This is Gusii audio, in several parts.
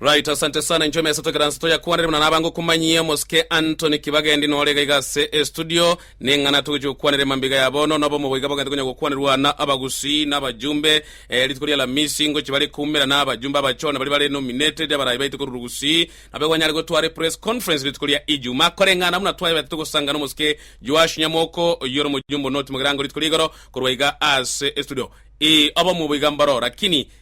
Right asante sana inche omesa togera nse toyakwanere buna nabange okomanyia omosike Anthony kibagendi nore iga iga ase e studio neng'ana togochia gokwanera emambiga ya bono nobo omobo iga bogente konya gokwanerwa na abagusii na abajumbe eh, rituko ria alamisi ngochi bare koumera na abajumbe abachone baria bare nominated abarayi baite korwa rugusii nabo igo anyare gotwara epress conference rituko ria ijuma koreng'ana buna twaebete togosangana omosike Joash Nyamoko oyio ore omojumbe onotimogira ango rituko ria igoro korwa iga ase e studio ii obo omobo iga mbaro lakini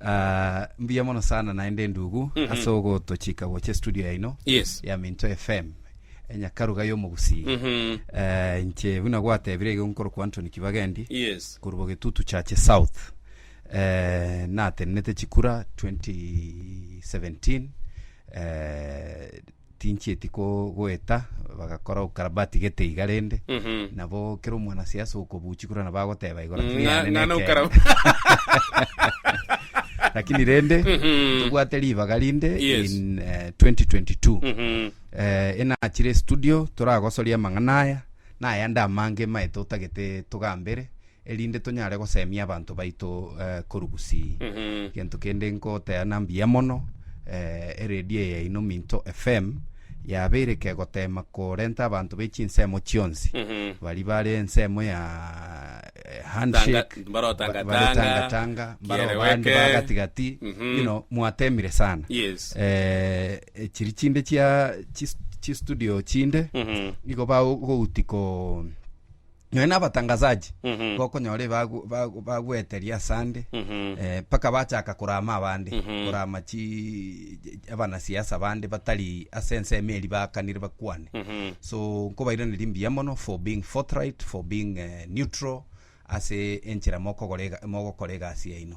Ah, mbuya mono sana naende ndugu ase ogotochika gocha studio yaino Yes. ya minto fm enyakaruga y'omogusii Mhm. Eh, inche buna gwatebire igo nkorokwa antony kibagendi Yes. korubo getutu chache south eh, natenenete chikura 2017 eh, tinchieti ko- goeta bagakora ukarabati gete iga rende Mhm. nabo kera omwanasiasa okobuchi korwa nabo agoteba igoro tiri Ng'a- yane ng'ana nekende. okara- lakini rende Mhm. tobwate ribaga rinde Yes. in eh, 2022 Mhm. eh, enachire studio toragosoria amang'ana aya nayande amange maete otagete togambere erinde tonyare gosemia abanto baito eh, korugusi Mhm. gento kende nkoteana mbuya mono eh, eredio eye yaino minto fm yabeire kegotema korenta abanto bechinsemo chionsi Mhm. bari bare ensemo ya eh, Tanga- handshake mbaro tanga- ba- bare tanga, tanga tanga mbaro kiere bande weke. bagatigati Mhm. you know mwatemire sana Yes. eh, eh, chiri chinde chia chis- chistudio chinde Mhm. igo bagoutiko Nonya nabatangasaji gokonyora ebagu- bagu- bagoeteria asande eh, mpaka bachaka korama abande korama chi abanasiasa bande batari ase ensemo eri baakanire bakwane so nkobairaneria mbuya mono for being forthright for being eh, neutral ase enchera mokogora ega- mogokora egasi yaino.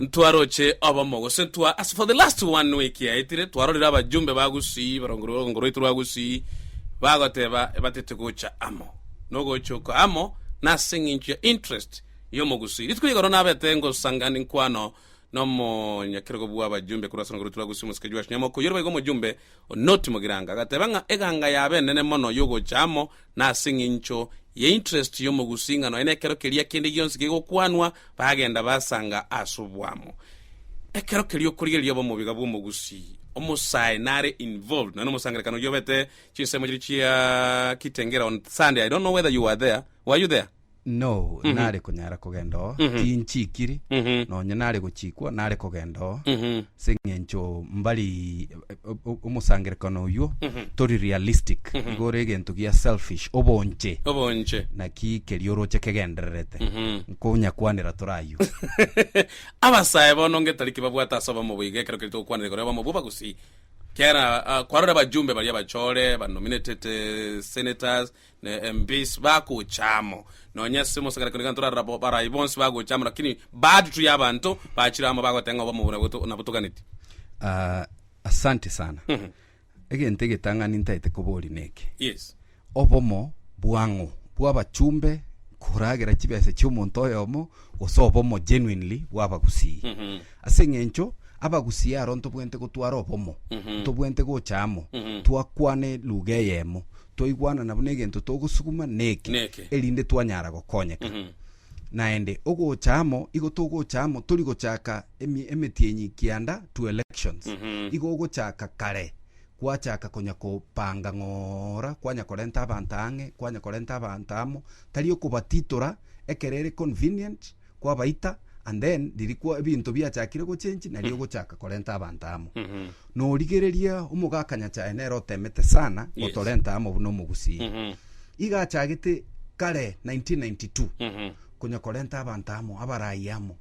Ntwaroche obomo gose twa ase for the last one week yaetire twarorire abajumbe ba Gusii barongo rugongo rwaitu rwa Gusii bagoteba ebatete gocha amo nogocha oko amo nase eng'encho ya interest y'omogusii. Rituko rigoro nabete ngosanga ninkwano nomonyakerogo bw'abajumbe korwa ase orongo rwaitu rwa Gusii omosike Joash Nyamoko oyorebaigwe omojumbe Onoti Mogiranga agateba ng'a eganga yabe enene mono yogocha amo na ase engencho ye interest y'omogusing'a nonya nekero keria kende gionsi kegokwanwa, bagenda basanga ase obwamo. Ekero keria okorigereria obe omobiga bw'omogusii, omosae nare involved nonya nomosangererekano oyio obete chinsemo chiria chia Kitengela on Sunday, I don't know whether you were there, were you there? Noo Mhm. nare konyara kogenda oo Mhm. tinchikiri Mhm. nonye nare gochikwa nare kogenda oo Mhm. seng'encho mbari o- o- omosangerekano oywo Mhm. tori realistic Mhm. igo ore egento gia selfish obonche obonche naki kerio oroche kegendererete Mhm. nkonyakwanera tore aywo abasae bono ngetari kibabwate ase obomo boiga ekero keria togokwanera igoro y'obomo bwo abagusii kera ah, kwarora abajumbe baria abachore banominated eh, senators ne embisi bagocha amo, nonya ase omosang'anero kende gento torarora bo, barai bonsi bagocha amo, lakini baadtu y'abanto bachire amo bagoteba ng'a obomo obo naboto- nabotoganeti. Ah, asante sana Mhm. egento egetang'ani ntaete koboria neke Yes. obomo bwang'o bw'abachumbe koragera chibesa chi'omonto oyomo gose obomo genuinely bw'abagusii Mhm. Ase engencho abagusie aro ntobwenerete gotwara obomo, ntobwenerete gocha amo, twakwane luga eyemo, twaigwanana buna egento togosuguma neke, Neke. erinde twanyara gokonyeka. Naende ogocha amo igo togocha amo tori gochaka emi- emetienyi kianda to elections. Igo ogochaka kare gwachaka konya kopanga ng'ora kwanya korenta abanto ang'e, kwanya korenta abanto amo, tari okobatitora ekero ere convenient, kwabaita and then ririkwa ebinto biachakire gochenji nario ogochaka korenta abanto amo norigererie omogakanya chaye nere otemete sana Yes. gotorenta amo buna omogusii Mhm. iga achagete kare 1992 Mhm. konya korenta abanto amo abarayi amo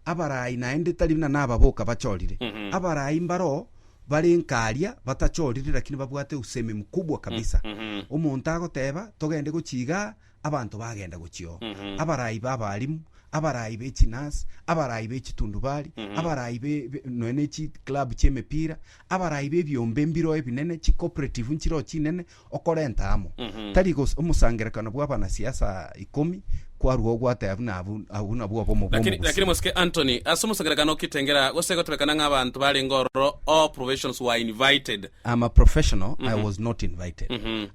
abarayi naende tari buna nababoka bachorire Mhm. abarayi mbaro bare nkaria batachorire lakini babwate usemi mkubwa kabisa Mhm. omonto agoteba togende gochiga abanto bagenda gochio, abaraai b'abaalimu, abaraai be chinurse, abaraai be chitundubari, abaraai be be- nonya ne chi club chi'emepira, abaraai b'ebiombe mbiro ebinene, chi cooperative nchiroo chinene, okorenta amo. Tari gose omosangerekano bw'abanasiasa ikomi kwarua obwate abwo na abwo, abwo nabwo obomo Lakini, lakini bw'omogusii. mosike Anthony, ase omosangerekano o Kitengela, gose gotebekana ng'a abanto barenge ororo, all professionals were invited. I'm a professional, I was not invited.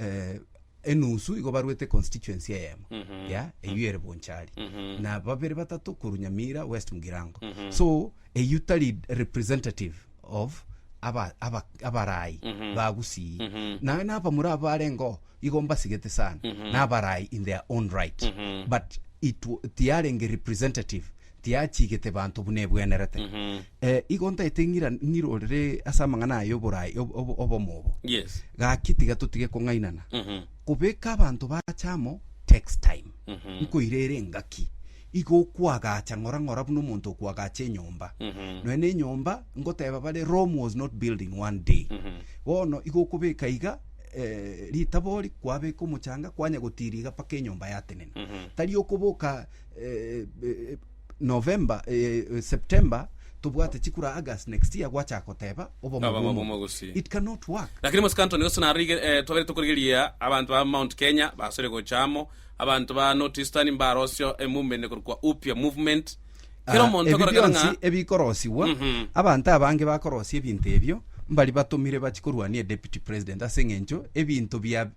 eh, enusu igo barwete constituency eyemo ya eyio ere bonchari na babere batato koru nyamira west mugirango so eyio tari representative of aba- aba- abarai bagusii naye nabamura abarengo igo mbasigete sana nabarai in their own right but it wa- tiarenge representative tiachigete banto buna ebwenerete. Eh, igo ntaete ng'ira ng'irorere ase amang'ana aye oborai ob- ob- obomo obo. Yes. Gaki tiga totige kong'ainana. Mhm. Kobeka abanto bacha amo takes time. Mhm. Nkoira ere engaki. Igo okwagacha ng'ora ng'ora buna omonto okwagacha enyomba. Mhm. Nonya na enyomba ngoteba bare Rome was not built in one day. Mhm. Bono igo okobeka iga eh, ritabori kwabeka omochanga kwanya gotiria iga mpaka enyomba yatenena. Mhm. Tari okoboka eh, eh, November eh, September tobwate chikura August next year gwachaka koteba oboma Oboma bw'omogosi. bw'omogosi. It cannot work. lakini mosika antoni gose narige eh, twabere tokorigeria abanto ba mount kenya basore gocha amo abanto ba north eastern mbarosio eh, movement ene korokwa upya movement kero Ah, omonto ebi akorakana bionsi ng'a ebikorosiwa Mhm. abanto abange bakorosia ebinto ebio mbari batomire bachi korwania deputy president ase eng'encho ebinto bia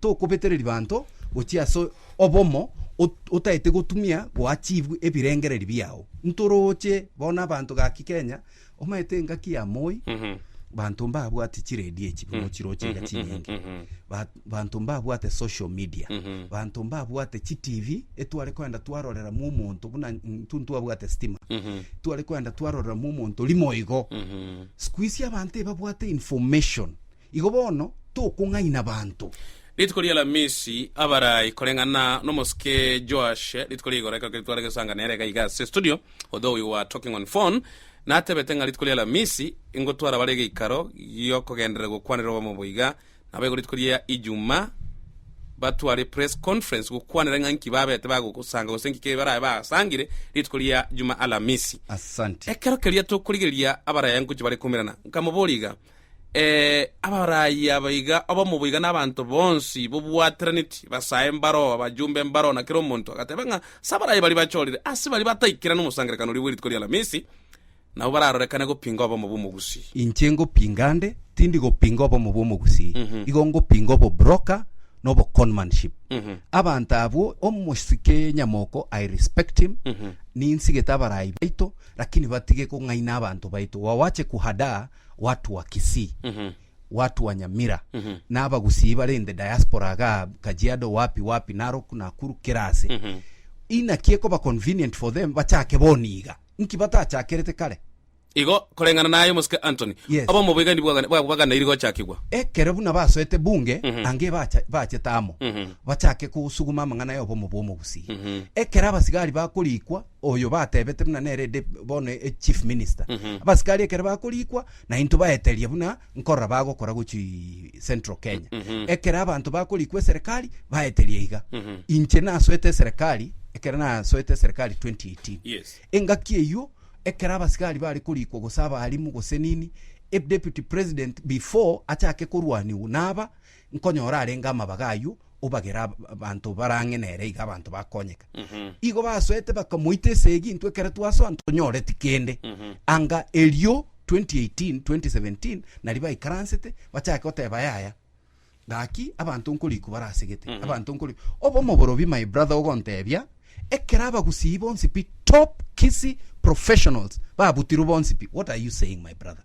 Tokobetereri banto gochia ase obomo ot- otaete gotumia goa chibu ebirengereri biao. Ntorooche bono nabanto gaki Kenya, omaete engaki ya Moi, banto mbabwati chiredio echi buna ochiroche iga chinyinge. Ba- Banto mbabwate social media, banto mbabwate chi TV etware koenda twaroreramwo omonto buna intwe ntwabwate stima. Tware koenda twaroreramwo omonto rimo igo. Sikuisi abanto ebabwate information. Igo bono tokong'aina abanto. Rituko ri'Alamisi, abarai koreng'ana n'omosike Joash, rituko ria igoro ekero keria tware gesanga nere iga iga ase estudio, Odhoo oyio wa Talking on Phone, natebete ng'a rituko ri'Alamisi ingotwara bare egeikaro gi'okogenderera gokwanera obomo boiga nabo igo rituko ria Ijumaa batware press conference gokwanera ng'a nki babete bagosanga gose nki kebe barabe basangire rituko ria Jumaalamisi. Asante. Ekero keria tokorigereria abaraya ngochia bare koimerana, nkamoboria iga, Ee, abaraayi aba iga obomo boiga n'abanto bonsi bobwateranetie, basae mbaroo, abajumbe mbaroo, na kera omonto agateba ng'a ase abaraayi baria bachorire ase baria bataikire nomosangererekano oria bw'erituko ri'Alamisi, nabo bararorekane gopinga obomo bw'omogusii. Inche ngopinga nde, tindi gopinga obomo bw'omogusii, igo ngopinga obobroker na oboconmanship. Abanto abwo, omosike nyamoko, I respect him, ninsigete abaraayi baito, Lakini batige kong'aina abanto baito, gwawache kuhadaa watu wa Kisii, watu wa Nyamira, na abagusii bare in the diaspora igaa, Kajiado, wapi wapi, Narok, Nakuru, kera ase. Inaki ekoba convenient for them bachake boni iga? Nki batachakerete kare? Igo, koreng'ana naye omosike Anthony, Yes. obomo boiga endi bwagane- bwa- bwaganairi gochakigwa. Ekero buna basoete bunge, anga ebacha- bachete amo, bachake kosuguma amang'ana ya obomo bw'omogusii. Ekero abasigari bakorikwa, Oyo batebete buna nere inde bono e chief minister. Abasikari ekero bakoriikwa nainto baeteria buna nkorora bagokora gochia central Kenya. Ekero abanto bakoriikwa eserekari baeteria iga. Inche nasoete eserekari ekero nasoete eserekari 2018. Yes. Engaki eyio ekero abasikari bare koriikwa gose abaalimu gose nini, e deputy president before achake korwaniwu naba Nkonyora arenge amabaga ayio, obagere abanto barang'e nere iga abanto bakonyeka. Igo basoete bakamoita esegi, intwe ekero twasoa ntonyoreti kende. Anga erio 2018, 2017 nari baikaransete bachake goteba yaya, gaki abanto nkoriku barasegete, abanto nkori obomo borobi my brother ogontebia ekero abagusii bonsi pi top Kisii professionals babutirwe bonsi pi what are you saying my brother?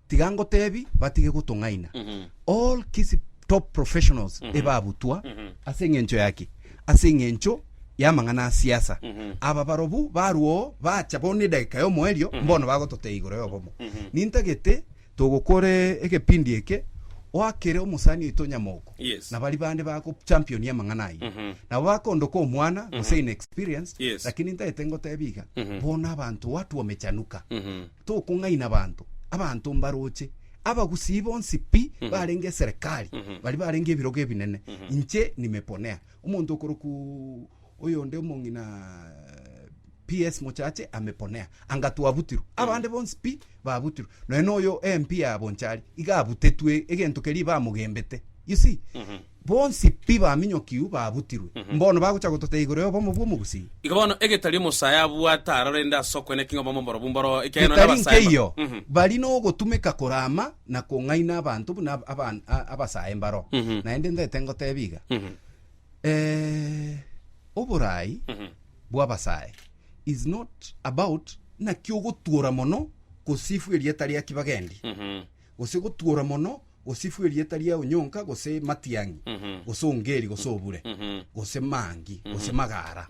tiga ngotebi batige gotong'aina all kisi top professionals ebabutwa ase eng'encho yaki ase eng'encho y'amang'ana a siasa aba barobu barwa oo bacha bono edageka y'omoerio mbono bagototebia igoro y'obomo nintagete togokore egepindi eke oakere omosani oito nyamoko Yes. na bari bande bago champion y'amang'ana ayio nabo bakondoka omwana gose inexperienced Yes. lakini ntagete ngotebi iga bono abanto watu wamechanuka Tokong'aina abanto, abanto mbaroche, abagusii bonsi pi barenge eserekari, baria barenge ebirogo ebinene, inche nimeponea. Omonto okorokwa oyonde omong'ina PS. Mochache ameponea, anga twabutirwe, abande bonsi pi babutirwe, nonya noyo MP ya Bonchari iga abutetwe egento keria bamogembete, you see. Bonsi pi baminyokiu babutirwe. Mbono bagocha gototebia igoro y'obomo bw'omogusii. Igo bono egetari omosae abwate aroro rende ase okwena king'e obomo mborobwo mboroo, ekiagera nonye Getari abasae nkeyio, mba. bari nogotumeka korama na kong'aina abanto buna aba- abasae mbaro. Naende ntaete ngotebia iga, eh, oboraai bw'abasae is not about naki ogotuora mono kosifu erieta ria kibagendi. gose gotuora mono, gose ifwe erieta riao nyonka, gose matiang'i, gose ongeri, gose obure, gose mangi, gose magara.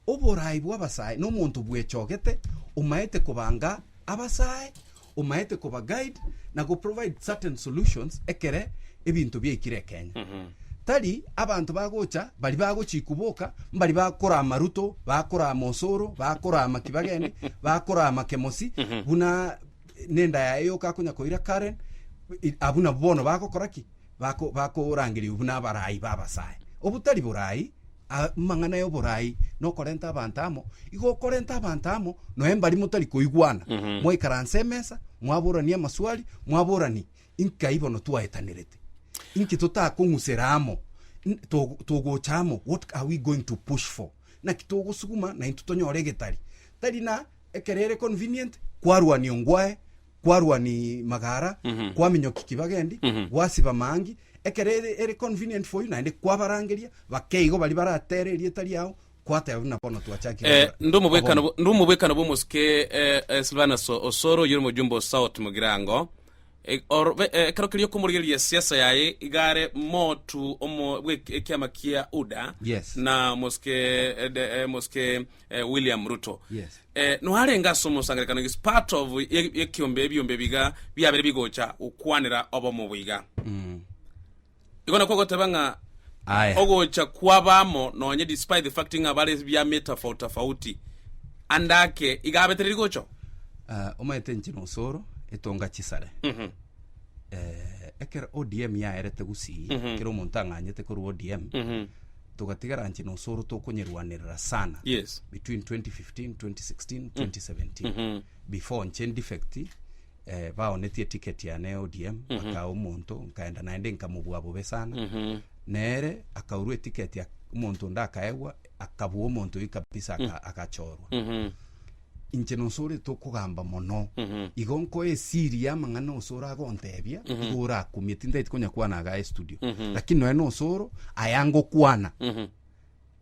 Oboraai bw'abasae nomonto bwechogete, omaete kobanga abasae, omaete koba guide na go provide certain solutions ekere ebinto biaikire ekenya. Tari abanto bagocha bari bagochikwa boka mbari bakora amaruto, bakora ama osoro, bakora amaki bagende, bakora amake mosi, buna nenda yaye yoka akonya koira Karen, i- abwo nabo bono bagokora ki Bako- bakorangeria buna abarai b'abasae obotari borai a- amang'ana y'oborai nokorenta abanto amo igo okorenta abanto amo noe mbari motari koigwana Mhm. mwaikaranse emesa mwaborani amaswali mwaborani inkai bono twaetanerete inki totakong'usera amo N- to- togocha amo what are we going to push for naki togosuguma naintwe tonyore egetari tari na ekero ere convenient kwarwania ongwae kwarwani magara Mhm. kwaminyoki kibagendi Mhm. gwasiba maangi ekero ere- ere convenient for you naende kwabarangeria bakeigo bari baratere erieta riao kwateba buna bono twachakire Eh, ndi omobwekano bo- ndi omobwekano bw'omosike eh, eh, silvanus osoro oyore omojumbe o south mogirango Eh, or- be- eh, ekero keria okomorigereria esiasa yaye igare motu omo- bwe- ekiama kia uda Yes. na mosike eh, de- eh, mosike eh, William Ruto Yes. eh, noarenge ase omosangerekano is part of ye- yekiombe ebiombe biga biabere bigocha gokwanera obomo boiga Mm. igo nakwo goteba ng'a Aya. ogocha kwabamo nonye despite the fact ng'a bare biame tofauti tofauti andake iga abetere rigocho Ah, omanyete nche nosoro etonga chisare Mhm. Eh, ekero odm yaerete gusii Mhm. ekero omonto ang'anyete korwa odm Mhm. togatigara nche nosoro tokonyeruanerera sana Yes. between 2015 2016 2017 Mhm. before nche defect eh, baonetie ticket yane ya odm bakaga omonto nkaenda naende nkamobua bobe sana Mhm. nere akaurwa etiketi omonto onde akaegwa akabua omonto oyi kabisa aka- agachorwa Mhm. inche nonsi orete okogamba mono, igo nkoe esiri y'amang'ana nonsi ore agontebia, igo orakumie, tintaeti konya kwana iga estudio, lakini nonya nonsi oro aya ngokwana,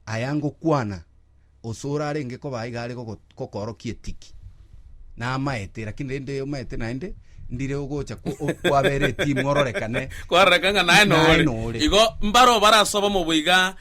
aya ngokwana onsi ore arenge koba aiga are gogo kokoorokia etiki, namaete lakini rende omaete naende, ndire ogocha ko- o- kwabera etimu ororekane, Kwaroreka ng'a naye naye nore. nore. Igo mbaro barasoba mobo iga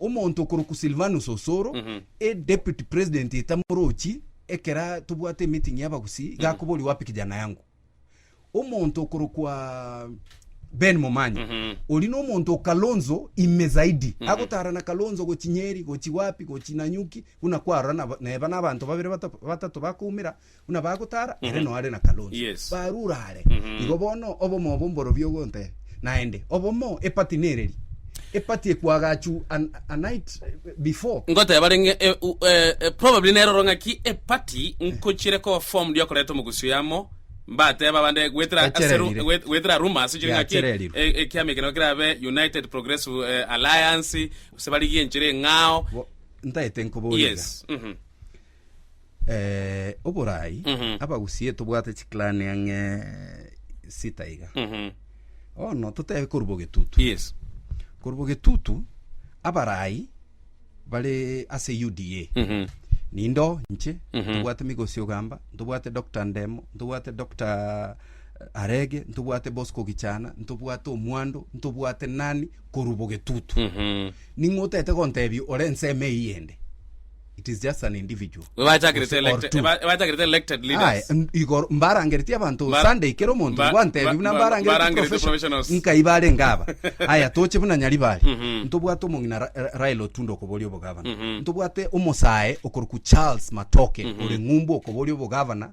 Omonto okorokwa Silvanus Osoro, e Deputy President etamorochi ekera tobwate emeeting y'abagusi, iga akoboria wapi kijana yangu. Omonto okorokwa Ben Momanyi, oria nomonto o Kalonzo ime zaidi, agotara na Kalonzo gochi Nyeri, gochi wapi, gochi Nanyuki, buna kwarora naba- neba na abanto babere bata- batato bakoumera, buna bagotara ere noare na Kalonzo barure are igo bono obomo obo mborobio ogonte naende obomo epati nereri epati ekwagachu an, a night before Ngoteba renge eh, u- eh, eh, probably neroro ng'aki epati nkochire koba formed yokoreta omogusii amo mbateba abande gwetera ase ru- Yachererire. gwet- gwetera rumors ochire ng'aki Yachererirwe. e- ekiama ekero kerabe United Progressive eh, Alliance gose barigie enchera eng'ao Bo- ntaete nkoboria iga. yes mhm. Eh, oborai Mhm. abagusie tobwate chiclan ang'e sita iga Mhm. ono totebe korwa bogetutu yes korwa bogetutu abarai bare ase uda Mhm. nindo nche Mhm. ntobwate migosi ogamba ntobwate dr ndemo ntobwate dr arege ntobwate bosco gichana ntobwate omwando ntobwate nani korwa bogetutu Mhm. ning'o otete gontebia ore ensemo eyio ende it is just an individual Ebachakirete Gose or elected- two. eba- ebachakirete elected Aye, leaders. n- igoro mbarangereti abanto Mba- sunday kero omonto mba- ngwantebi mba- buna mba- mbarangereti mbarangereti professionals. professionals. nkai barenge aba aya toche buna nyaribari Mhm. ntobwate omong'ina Ra- Ra- raila otundo okoboria obogavana Mhm. ntobwate omosae okorokwa charles matoke Mhm. ore ng'umbu okoboria obogavana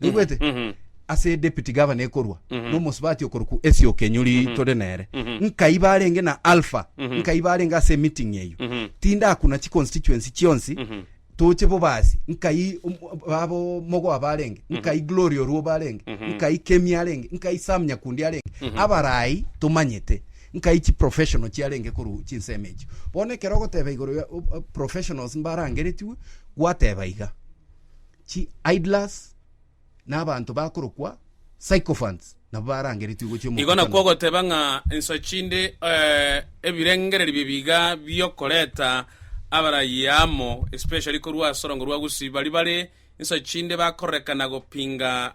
naigwete Mhm. ase deputy gavana ekorwa Mhm. nomosubati okorokwa Essie Okenyuri Mhm. tore nere Mhm. nkai barenge na Alpha Mhm. nkai barenge ase meeting eyio Mhm. tindakuna chi constituency chionsi Mhm. toche bobasi nkai um, abo mogoa barenge nkai glory oruo barenge Mhm. nkai kemi arenge nkai sam nyakundi arenge Mhm. abarai tomanyete nkai chi professional chiarenge koru chinsemo echio bono ekero ogoteba igoro ya o- o- professionals mbarangeretiwe gwateba iga Chi idlers na abanto bakorokwa sycophants nabo barangeretwe gochia Igo nakwo omokutano. ogoteba ng'a ensa chinde eh, ebirengererio bi'ebiga bi'okoreta abarayia amo, especially korwa ase orongo rwa gusii, baria bare ensa chinde bakororekana gopinga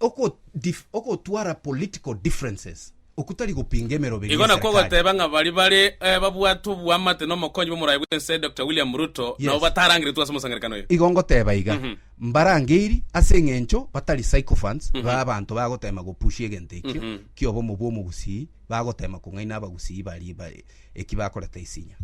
Oko dif okotwara political differences oku tari gopinga emeroberi Igo nakwo y'eserikali. ogoteba ng'a baria bare eh, babwate oboamate n'omokonyi bw'omoraia bw'ense Dokita William Ruto nabo Yes. batarangeretwe ase omosangerekano oyo. Igo ngoteba iga, Mhm. mbarangeiri ase eng'encho batari sycophants ba abanto bagotema gopushia egento ekio Mhm. ki'obomo bw'omogusii bagoteema kong'aina abagusii baria bare eki bakoreta isinya.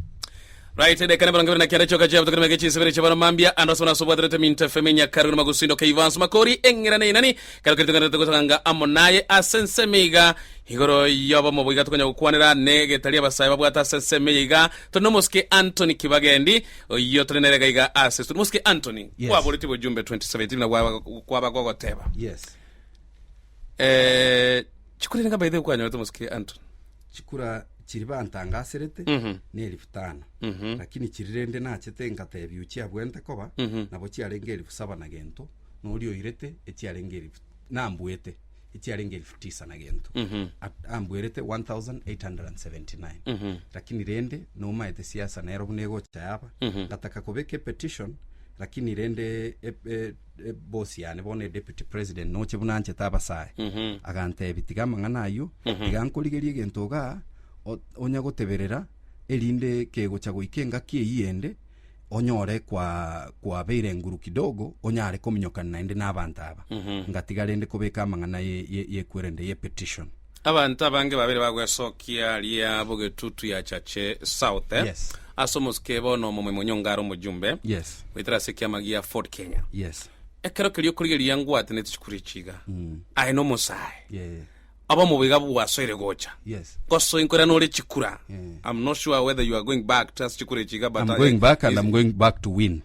Right, edeka na emerongo ebere na kenda chioka chiabo tokenimeke chinsibere chiabana mambia ande asomana asobwaterete minto efemo enyakaru na magusi ndoka iva nsoma kori eng'ira na inani kero keri togenderete gotanga amo naye ase ensemo iga igoro yobomo boiga tokonya gokwanera ne getaria abasae babwate ase ensemo eye iga tore na omosike Anthony Kibagendi oyio tore nere gaiga ase studio mosike Anthony Yes. kwaboreti bojumbe 2017 buna gwaba- kwaba gogoteba Yes. eh, Chikura nigo baidha kwanyorete omosike Anton. chikura chiri bantangaserete Mhm. ne elifu tano Mhm. lakini chiri rende nachete engatebia ochiabwente koba Mhm. nabo chiarenge elifu saba na gento na oria oirete echiarenge elifu nambuete echiarenge elifu tisa na gento Mhm. At- ambwerete 1879 Mhm. lakini rende nomaete siasa nero buna egocha yaba Mhm. ngataka kobeka epetition lakini rende e- e- E boss yane bono e deputy president noche buna anchete abasae agantebi tiga amang'ana ayio tiga nkorigerie egento igaa o- onya goteberera erinde kegocha goika engaki eyio ende onyore kwa kwabeire nguru kidogo onyare kominyokana naende na abanto aba ngatiga rende kobeka amang'ana ye- ye- yekwerende ye petition Abanto abange babere bagwesokia ria bogetutu ya Chache South Yes. ase omosike bono omomoi monyonga are omojumbe Yes. goetera ase ekiama gia Ford Kenya. Yes. Ekero keria okorigereria ngwatenete chikuru echi iga aye nomosae Yeah. obomo boiga bwasoire gocha Yes. ngosoe nkorera nore chikura Yeah. I'm not sure whether you are going back to ase chikura echi iga but I'm I- going back and is- I'm going back to win.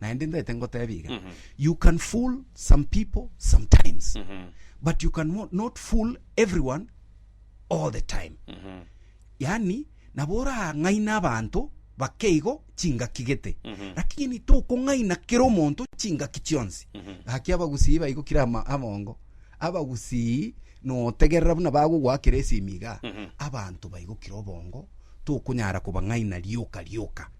naende ndete ngotebi iga Mhm. you can fool some people sometimes Mhm. but you can mo- not fool everyone all the time Mhm. yani nabo orang'aina abanto bakeigo chingaki gete Mhm. lakini tokong'aina kera omonto chingaki chionsi Mhm. gaki abagusii baigokire ama- amongo abagusii notegerera buna bagogwakera esimi iga Mhm. abanto baigokire obongo tokonyara kobang'aina rioka rioka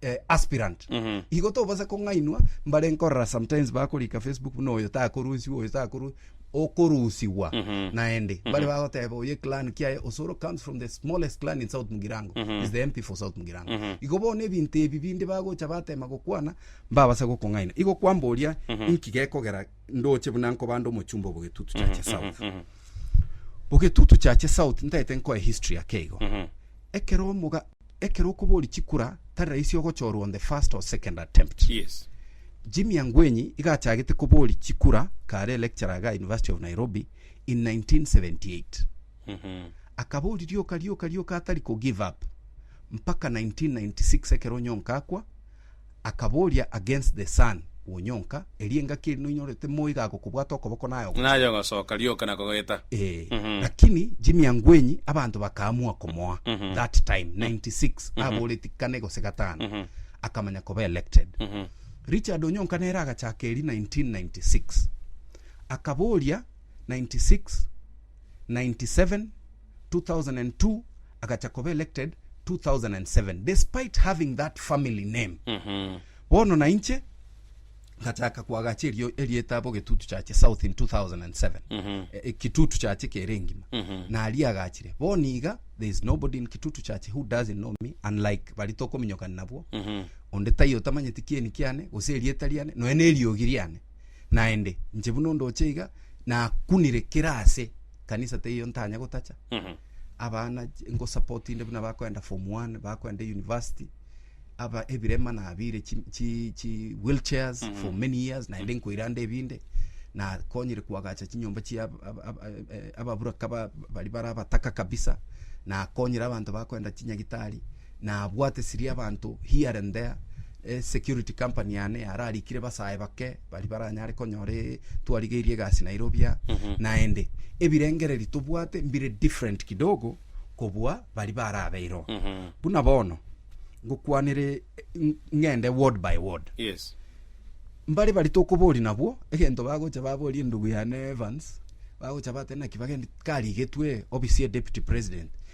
eh, aspirant Mhm. igo tobasa kong'ainwa mbare nkorora sometimes bakorika facebook buna oyo takorusiwa oyo takoru okorusiwa Mhm. naende bare bagoteba oye clan kiaye osoro comes from the smallest clan in south mugirango Mhm. is the mp for south mugirango Mhm. igo bono ebinto ebi binde bagocha batema gokwana mbabasa gokong'aina igo kwamboria inki gekogera ndoche buna nkobande omochumba obogetutu chache south Mhm. bogetutu chache south ntaete nkoe history yake igo Mhm. ekero omoga Ekero okobori chikura tari raisi ogochorwa on the first or second attempt. Yes. Jimmy Angwenyi iga achagete kobori chikura kare lecturer iga University of Nairobi in 1978. Akabori rioka rioka rioka atari ko give up mpaka 1996 ekero Onyonka akwa Akaboria against the sun wonyonka, eria engaki eri noinyorete moigago kobwata okoboko naye ogocha. Naye ogosoka rioka na kogeta. Ee, lakini jimiango enyi abanto bakaamua komoa that time 96 aboreti kane gose gatano akamanya koba elected. Richard Onyonka nere agachaka eri 1996 akaboria 96, 97, 2002 agacha koba elected 2007 despite having that family name bono na inche ngachaka kwagacha erio erieta abo getutu chache south in 2007 Eh, eh, kitutu chache kere ngima naria agachire bono iga there is nobody in kitutu chache who doesn't know me unlike bari tokominyokana nabwo onde taiyo tamanyeti kieni kiane gose erieta riane nonya neriogi riane naende inche buna ondoche iga nakunire kera ase kanisa teiyo ntanya gotacha abana ch- ngosapotinde buna bakoenda form one bakoenda university aba ebirema nabire chi chi chi wheel chairs for many years naende nkoirande ebinde nakonyire koagacha chinyomba chia ab- ab- ab- eh, ababuraka ba- bari bara abataka kabisa nakonyire abanto bakoenda chinyagitari. Nabwate siria y'abanto here and there, security company yane yararikire basae bake bari baranyare konyore twarigeirie egasi Nairobi aa naende ebirengereri tobwate mbire different kidogo kobua bari barabeireo buna bono ngokwanere ng- ng'ende ward by ward Yes. mbare bari tokobori nabwo egento bagocha babori endugu yane Evans bagocha bate naki bagendi karigetwe ofisi ya deputy president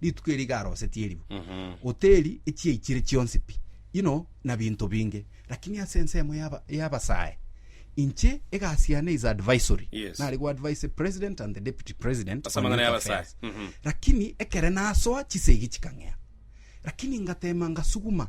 Rituko eri iga arosetie erimo, oteri echiaichire chionsi pi inho na binto binge, lakini ase ensemo y'aba y'abasae inche egasi yane is advisory, Yes. nare go advise the president and the deputy president Ase on amang'ana youth y'abasae. affairs. Mhm. lakini ekere nasoa chisegi chikang'ea lakini ngatema ngasuguma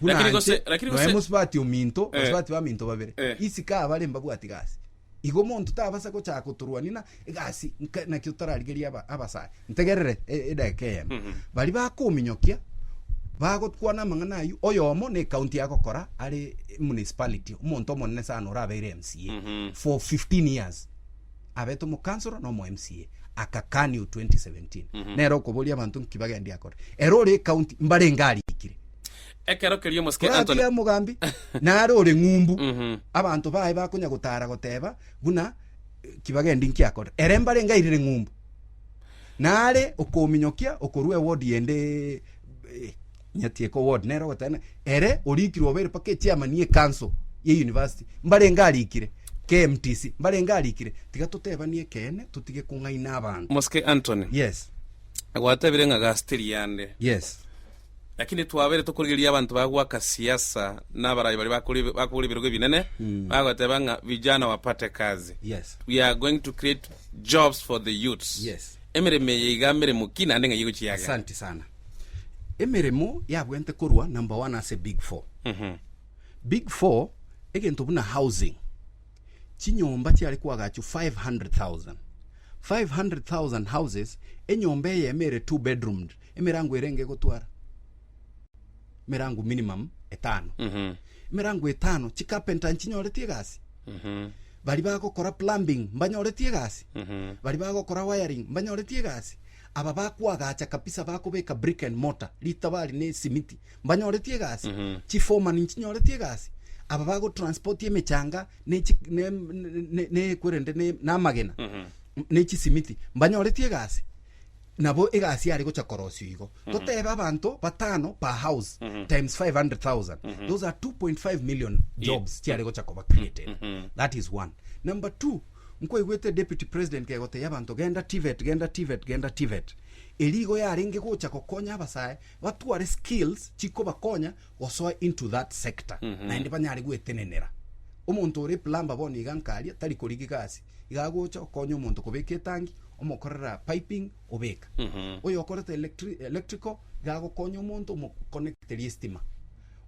Buna Lakini gose- inche lakini noe gose- mosubati ominto, Eh. basubati baminto babere, Eh. isiko abare mbabwati gasi. Igo omonto tabasa gochaka gotorwania na egasi nka- naki otararigeria aba- abasare. Ntegerere e- edageka eyemo. Mhm. Bari bakominyokia, bagokwana amang'ana ayio, oyomo na ekaunti agokora are municipality, omonto omonene sana orabeire MCA Mhm. for 15 years. abete omokansoro na omo MCA akakani o 2017 mm -hmm. nere okoboria abanto nki bagendi akore ere ore ekaunti mbare ngari ikire ekero kerio mosike Anthony ya mugambi nare ore ngumbu mm -hmm. abanto bae bakonya gotara goteba buna eh, kibagendi nki akore ere mbare ngairire ngumbu nare okominyokia okorua wodi yende eh, Nyatieka Award nere ogoteba ng'a ere orikirwe obeire mpaka echairman ye council ye university mbarenge arikire, KMTC mbarenge arikire, tiga totebanie ekeene totige kong'aina abanto. Mosike Anthony, Yes, Gwatebire ng'a gasi teri yande, yes. lakini twabeire tokorigereria abanto bagwaka siasa na abarayi baria bakore bakogora ebirogo ebinene bagoteba ng'a vijana wapate kazi. Yes. We are going to create jobs for the youths. Yes. Emeremo eye iga meremo ki naende ng'ai egochia iga? Asante sana. Emeremo yabwente korwa number one ase big four. Big four egento buna housing. Chinyomba chiare kwagachwa 500,000. 500,000 houses enyomba eyemo ere two bedroomed emerango erenge egotwara emerango minimum etano. Emerango etano chicarpenter nchinyoreti egasi. Bari bagokora plumbing mbanyoreti egasi. Bari bagokora wiring mbanyoreti egasi. Aba bakoagacha kabisa bakobeka brick and mortar ritabari ne simiti mbanyoretie egasi chifoman nchinyoretie egasi aba bagotransport emechanga ne chi- ne- ne- ne- kwerende ne- namagena ne chisimiti mbanyoretie egasi nabo egasi yare gocha korosio igo totebe abanto batano per house times 500000 those are 2.5 million jobs chiare gocha koba created that is one number two Nkwaigwete Deputy President kegoteia abanto genda TVET, genda TVET, genda TVET. Erio igo yarenge gocha gokonya abasae batware skills chikobakonya gosoa into that sector naende banyare gwetenenera. Omonto ore plumber bono iga nkaria tari korigia egasi, iga agocha okonya omonto kobeka etangi, omokorera piping, kobeka. Oyokorete electrical nigo agokonya omonto omo connecterie estima.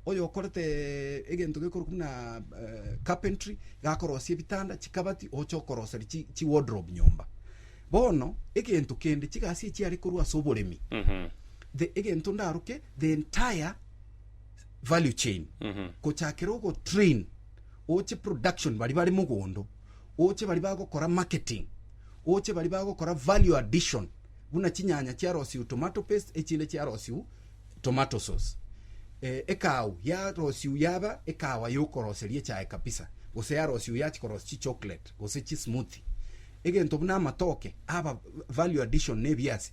Oyokorete egento gekorokwa buna carpentry nigo akorosia ebitanda, chikabati oche okoroseri chi chi wardrobe nyomba. Bono egento kende chigasi echi are korwa ase oboremi the egento ndaroke the entire value chain gochakera ogotrain oche production bari bare mogondo, oche bari bagokora marketing, oche bari bagokora value addition buna chinyanya chiarosiwu tomato paste echinde chiarosiwu tomato sauce. Eh, ekaau yarosiwu yaba ekawa yokoroseria echae kabisa, gose yarosiwu yachi korosia chichocolate gose chismoothie. Egento buna amatoke aba value addition na ebiasi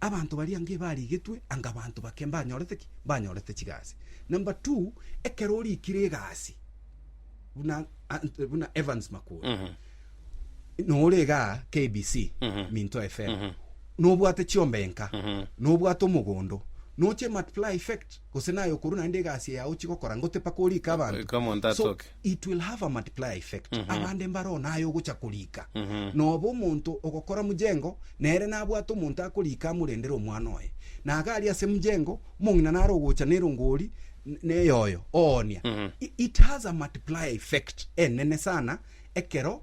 Abanto baria anga ebarigetwe anga abanto bake mbanyorete ki? Mbanyorete chigasi. Number two, ekero orikire egasi buna, Ant- buna Evans Makura nore igaa KBC Minto FM nobwate chiomba enka nobwate omogondo noche multiply effect gose naye okorwa naende egasi yao chigokora ngote paka orike Eka omonto abanto so asoke. it will have a multiplier effect mm -hmm. abande mbaro naye ogocha korika mm -hmm. nobo omonto ogokora mujengo nere nabwate omonto akorika amurendere omwana oye naga ari ase mujengo mong'ina nare ogocha nerongori neyoyo oonia mm -hmm. it has a multiplier effect enene sana ekero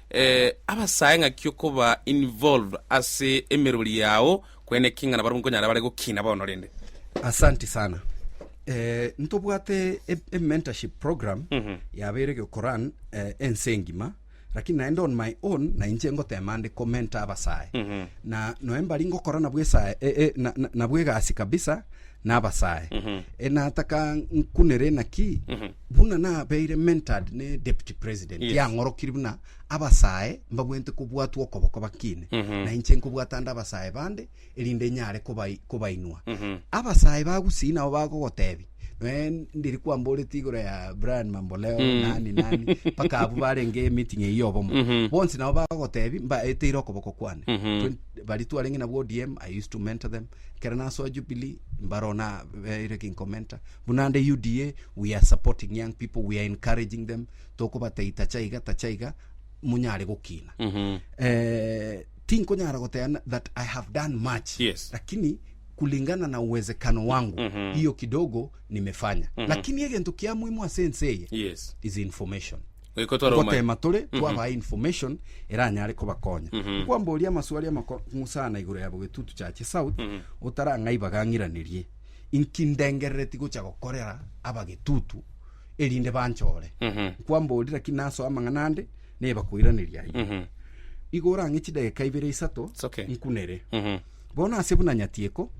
Eh, abasae ng'aki okoba involved ase emerori yao kwene ki ng'ana barabwo nkonyara bare gokina bono rende. Asante sana. Eh, ntobwate e, e mentorship program Mhm. yabeire gekoran eh, ense engima lakini naende on my own na inche ngotema ndi komenta abasae Mhm. na noe mbari ngokora nabwo esae e, e, na- na- nabwo egasi kabisa na abasae Mhm. enataka nkunere naki Mhm. buna nabeire mentored ne deputy president Yes. yang'orokiri buna abasae mbabwente kobwatwa okoboko bakine Mhm. na inche nkobwata nde abasae bande erinde nyare kobai- kobainwa Mhm. abasae bagusii nabo bagogotebi noe ndiri kwamboreti igoro ya brian mamboleo Mm. nani nani mpaka abu barenge emeeting eyio obomo Mhm. bonsi nabo bagogotebi mbaeteire okoboko kwane Mhm. Twen- bari twarenge nabwo odm i used to mentor them kera nasoa jubilee mbarona beire kinkomenta Buna nde UDA, we are supporting young people, we are encouraging them, tokobatei tacha iga, tacha iga, monyare gokina. Eh, tinkonyara goteba na- that I have done much. Yes. Lakini kulingana na uwezekano wangu, hiyo kidogo nimefanya. Lakini egento kia muhimu ase ense eye Yes. is information Goiko twaroma. gotema tore twabae information eranyare kobakonya nkwamboria amaswali amako ng'usana igoro yabo getutu chache south otarang'aiba gang'iranerie Inki ndengerereti gocha gokorera abagetutu erinde banchore? Nkwamborire ki nasoe amang'ana ande, neba koiraneria aye. Igo orang'e chidegeka ibere isato It's okay. nkunere. Bono ase buna nyatieko,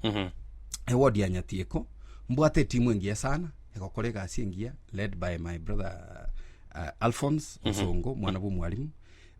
ewodi ya nyatieko, mbwate etimu engiya sana egokora egasi engiya led by my brother uh, Alphonse Osongo, mwana bw'omwalimu.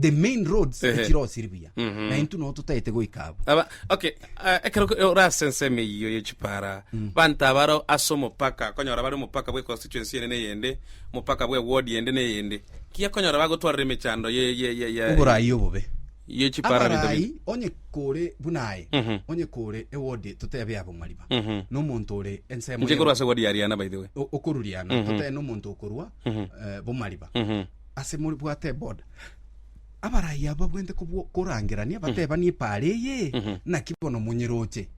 the main roads Ehe. echirosiri buya Mhm. na intwe noo totaete goika abo Aba, okay, eh, ekero ko- orase ensemo eyiyo yechipara banto abaro ase omopaka konyora bari omopaka bwe constituency ende neyende omopaka bwe ward ende neyende kiya konyora bagotwarera emechando ye- ye- ye- ye- oborayi obobe yechipara binto binde. abarai onye kore buna aye Mhm. onye kore ewodi totebe ya bong'ariba Mhm. nomonto ore ensemo nche korwa ase ward yariana by the way O- okoruriana Mhm. totebe nomonto okorwa Mhm. eh, bomariba Mhm. ase more bwate eboda abarai abo babwente korangerania batebanie pare eye naki bono monyeroche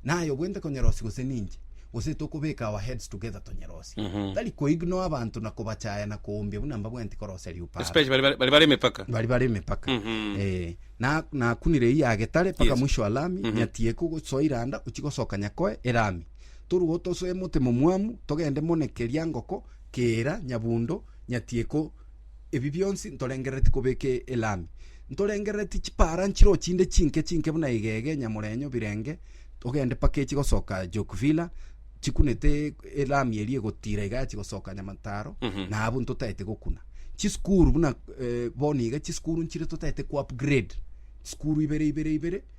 naye obwente konyerosi gose ninche gose tokobeka our heads together tonyerosi tari koigno abanto na kobachaya na koombia buna mbabwenti korosia riupara especially bari bari bare emepaka bari bare emepaka eh, na- nakunire eyi yagetare paka Yes. mwisho wa lami nyatie kogosoa iranda ochi gosoka nyakoe erami toruo tosoe emotemo mwamu togende mone keria ngoko kera nyabundo Nyatieko, ebi bionsi ntorengerereti kobeke elami. Ntorengerereti chipaara nchiro chinde chinke chinke buna egege, nyamorenyo, birenge, togende mpaka echi gosoka Jokvilla, chikunete elami eria egotira iga yachi gosoka Nyamataro, na abwo ntotaete gokuna. Chisukuru buna eh, bono iga chisukuru nchire totaete ko upgrade, chisukuru ibere ibere ibere,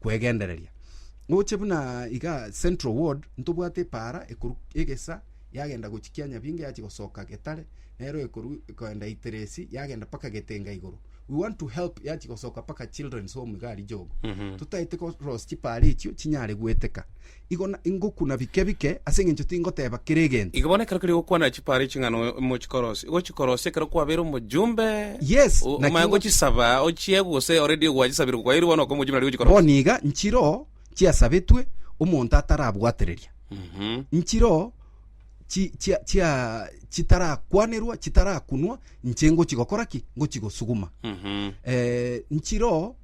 kwegendereria. Gocha buna iga central ward, ntobwate epaara ekorwa egesa yagenda gochia Kianyabinga yachia gosoka Getare, nero ekorwa ekoenda Iteresi yagenda mpaka Getenga igoro. We want to help yachia gosoka mpaka children's home iga aria jogo. Totaete ko loss chipaara echio chinyare goeteka. igo na ingokuna bike bike, ase engencho tingoteeba kera egento. Igo bono ekero keria gokwana chipara eching'ana mochikorosie, igo chikorosie ekero kwabeire omojumbe. Yes, O- naki Omanye ngo- gochisaba, ochie gose already gwachisabire kwaeirwe bono oka omojumbe nari gochikorosia. Bono iga nchiro chiasabetwe omonto atarabwatereria. Mhm. Nchiro chi chia chia chitarakwanerwa, chitarakunwa, inche ngochigokora ki? Ngochigosuguma. Mhm. Eh, nchiro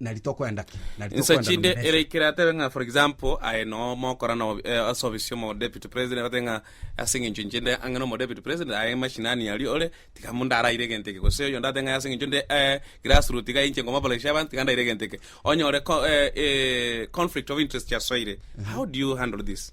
nari tokoenda ki nari insa tokoenda chinde nomerese. ereikire atebe ng'a for example aye no mokora no eh, ase ofisi omo deputy president agoteba ng'a ase eng'encho inche nde ang'e nomo deputy president aye mashinani aria ore tiga munde araire egento eke gose oyonde agoteba ng'a ase eng'encho nde eh, grass root iga inche ngomoboreshe abanto tiga ndaire egento eke onyore co- eh, eh, conflict of interest chiasoire how do you handle this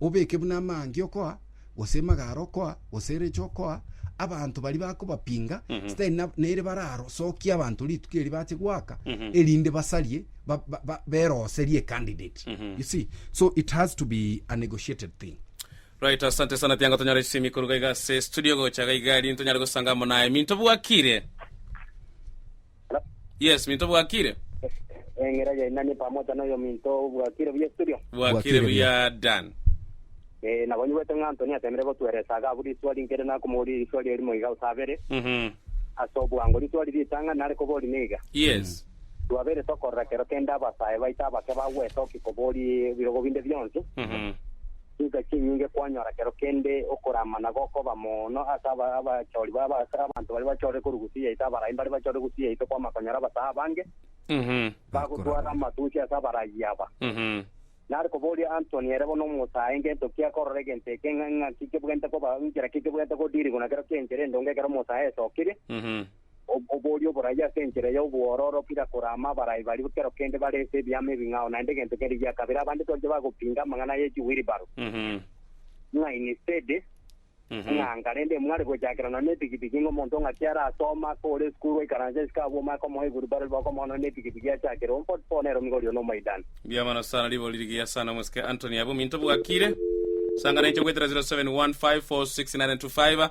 obeke buna amaangi okoa, gose emagaaro okoa, gose erecha okoa, abanto baria bakobapinga, sitari na- nere bararo sokia abanto rituko eri bache goaka, erinde basarie, ba- ba- ba- beroserie ecandidate. You see? So it has to be a negotiated thing. Right, asante sana tianga tonyore chisemi koruga iga ase studio gocha iga iga riria tonyare gosanga amo naye minto bwakire. Yes, minto bwakire. Eng'era yainani pamoja na oyo minto obwakire buya studio. Bwakire buya Dan. Eh, nabonywete ng'a Anthony atemire gotueresa agabu riswali nkere nakomoria riswali erimo iga gose abere. Mhm. Ase obwango riswali ritang'ani nare kobori niga. Yes. Twabere tokorora kero kende abasae baito abake bagwete oki kobori ebirogo binde bionsi. Mhm. chinsa chinyinge kwanyora kero kende okoramana gokoba mono ase abachori babo, ase abanto baria bachorire korwa gusii yaito, abarai mbaria bachorire gusii yaito kwama konyora abasae abange bagotwara amatusi ase abaragi aba. Nare koboria Antony ere bono omosae ngento ki akorora egento eke, ng'a ng'aki kebwenerete koba, inchera ki kebwenerete kodirigwa na kero ki'enchera endonge ekero omosae esokirie. Oboria oboraia ase enchera y'obwororo kira korama abarai baria kero kende barese ebiama ebing'ao naende egento kende gia kabere abande twachia bagopinga amang'ana ye chiwiribaru, ng'a inisedi, ng'anga, rende mware gochakera nonya nepikipiki ng'a omonto ng'aki ara asoma, kore esukuru oikaranse isiko abwo omaekomoa ewiribaru ribe okomoa nonya nepikipiki achakere ompa otipe one eromi gorio nomoidani. Mbuya mono sana ribori rigiya sana omosike Anthony abwo minto bwakire sangana inche gwetera 0715469925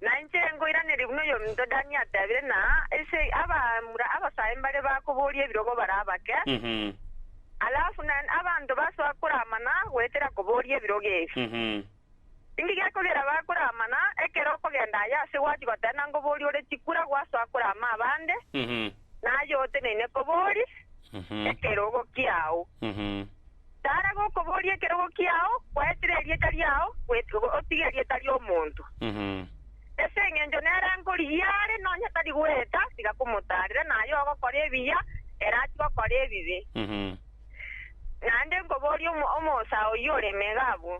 Na inche nkoiraneria buna oyominto Dani atebire, na ase abamura abasae mbare bakobooria ebirogo bare abake, alafu na abanto basoa koramana goetera kobooria ebirogo ebi. Tindi gekogera bakoramana, ekero okogenda aye ase gwachi goteba na nkobooria ore chikura gwasoa korama abande, na aye oteneine kobooria ekerogo kiao. Tara gokoboria ekerogo kiao, gwaetire erieta riao, goet- otige erieta ri'omonto. Ase engencho nere ankorigia are, nonya tari goeta, tiga komotarera, na aye ogokora ebiya, ere achie gokora ebibe. Naende nkoborie omo- omosaa oyio ore emega abwo.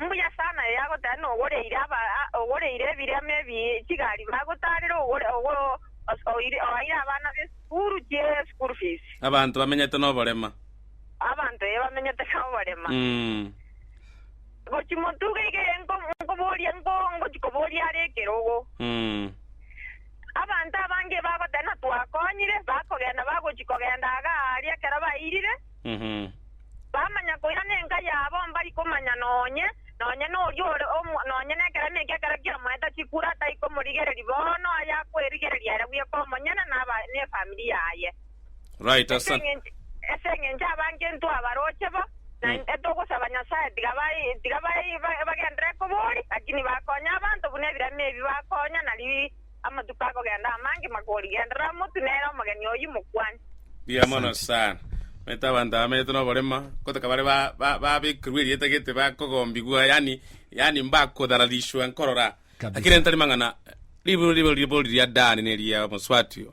Mbuya sana eye agoteba ng'a ogoreire aba, ogoreire ebirema ebi chigari bagotarera ogore, ogo, os- oire- oaire abana b'esukuru chi school fees. Abanto bamenyete noborema. Abanto eye bamenyete noborema. Mm. Gochi motuga iga eye nko- nkoboria nko ngochi koboria are ekerogo. Mm. Abanto abange bagoteba ng'a twakonyire, bakogenda bagochi kogenda iga aria ekero bairire. Bamanya koira nenka yabo mbari komanya nonye, nonye noria ore omo, nonye nekeremo ekia ekero kiamoeta chikure atari komorigereria bono aye akwerigereria ere bweka omonyene na aba ne family yaye. Right, Ase asante. eng'encho ase eng'encho abange ntwabaroche bo, na Mm. etogosaba Nyasaye tiga bai tiga bai ba- bagendere kobori, lakini bakonye abanto buna ebirema ebi bakonya nari Amatuko akogenda amange makorigenderera omotu nere omogeni oyio mokwani. Mbuya mono Asante. sana omanyete abanto abamenyete noborema gotoka bare ba- ba- babekirwe erieta gete bakogombigwa yani yani mbakodhararishwa nkorora Kabisa. lakini ntari mang'ana riburu ribo ribo riria dani neria moswati oo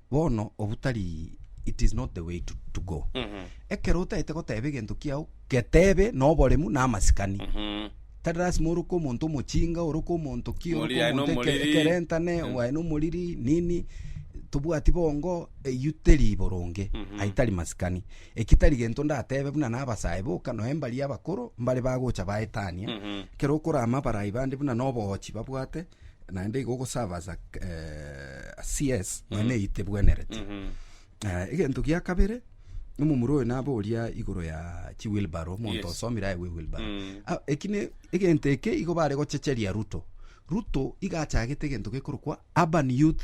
bono obutari it is not the way to, to go ekero otaete goteba egento kiao getebe na oboremu na amasikani tari lasima oroke omonto omochinga oroke omonto ki oroke Omoriri aye omonto eke- nomoriri. ekerentane waye nomoriri nini tobwati bongo eyio teri boronge aye tari masikani eki tari gento ndatebe buna nabasae boka noe mbari abakoro mbare bagocha baetania ekero okorama abarai bande buna na obogochi babwate naende igo ogosaba as a eh, a CS nonya eite bwenerete Eh, egento gia kabere omomura oyo naba oria igoro ya chiwilbaro omonto Yes. osomire aye wilbaro Mm. Ah, eki ne egento eke igo bare gochecheria ruto ruto iga achagete egento gekorokwa urban youth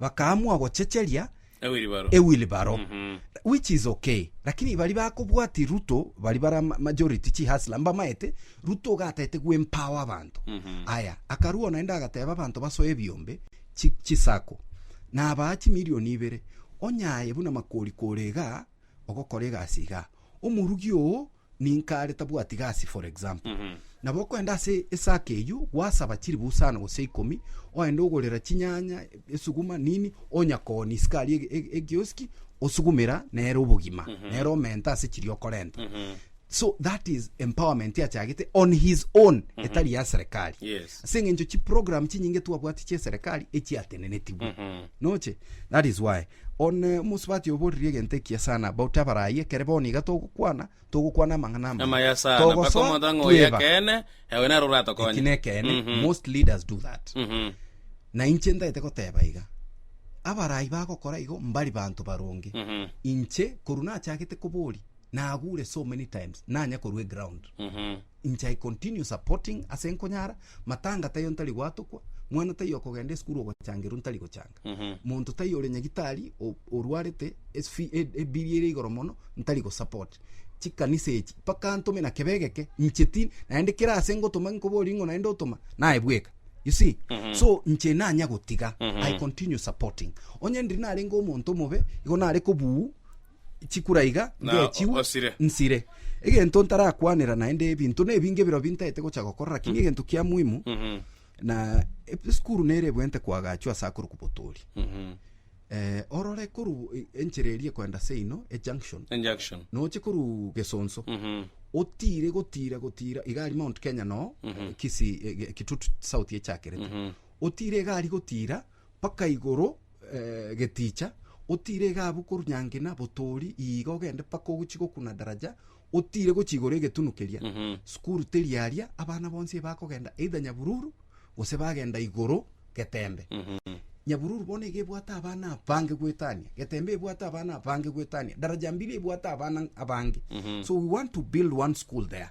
bakaamua gochecheria ewilibaro which is okay lakini bari bakobwati Ruto bari bara majority chihasla mbamaete Ruto ogataete gwempower abanto aya akarua naende agateba abanto basoe ebiombe chisako nabaa chimilioni ibere onyaye buna makori kore igaa ogokora egasi igaa omorugi oo Ninka are tabwati gasi for example. Nabo okoenda ase esake eyio gwasaba chiribu isano gose ikomi oende ogorera chinyanya, esuguma nini onyakooni isiko aria ege- ege- egioski osugumera nere obogima nere omenta ase chiria okorenta. So that is empowerment achagete on his own etari ya serekari. Yes. Ase eng'encho chiprogram chinyinge twabwati chia eserekari echiatenenetigwe. Noche? That is why. One omosubati oboorire egento ekiya sana, bagote abarai, ekere bono iga togokwana, togokwana amang'ana amaya. Amaya sana, mpaka Togosoa, omonto ang'e oyo tweba. ekeene, ewe naro Eki oratokonye. nekeene, Mhm. most leaders do that. Mhm. Na inche ntagete goteba iga, abarai bagokora igo mbari banto baronge. Mhm. Inche, korwa nachagete koboria, nagure so many times, nanya korwa eground. Mhm. Inche I continue supporting ase nkonyara, matanga taiyo ntari gwatokwa, mwana taiyo okogenda esukuru ogochangerwa ntari gochanga, monto taiyo ore nyagitari o- orwarete es- fi- e- ebiri ere igoro mono ntari gosupport. Chikanisa echi mpaka ntome na kebe egeke inche ti naende kere ase ngotoma nkoborie ng'o naende otoma naye bweka you see so inche nanya gotiga I continue supporting onye ndiri narenge omonto omobe igo nare kobuu. chikura iga Na ngechigwa osire. nsire egento ntarakwanera naende ebinto nebinge biro bintaete gocha gokora lakini egento kia muhimu Mhm, na ep- esukuru nere ebwente kwagachwa ase akoru kobotori mhm. eh, orore koru e- enchera eria kwenda seino ejunction Injunction. noche koru gesonso Mhm, otire gotira gotira igari mount kenya no eh, kisi eh, kitutu south echakerete mhm. otire egari gotira mpaka igoro geticha, otiire egabu korwa nyangina botoori iga ogende mpaka ogochie gokuna daraja, otiire gochia igoro egetunu keria. Sukuru teri aria, abana bonsi iga bakogenda either Nyabululu gose bagenda igoro Getembe. Nyabululu bono iga ebwate abana abange goetania, Getembe ebwate abana abange goetania, Darajambili ebwate abana abange. So we want to build one school there.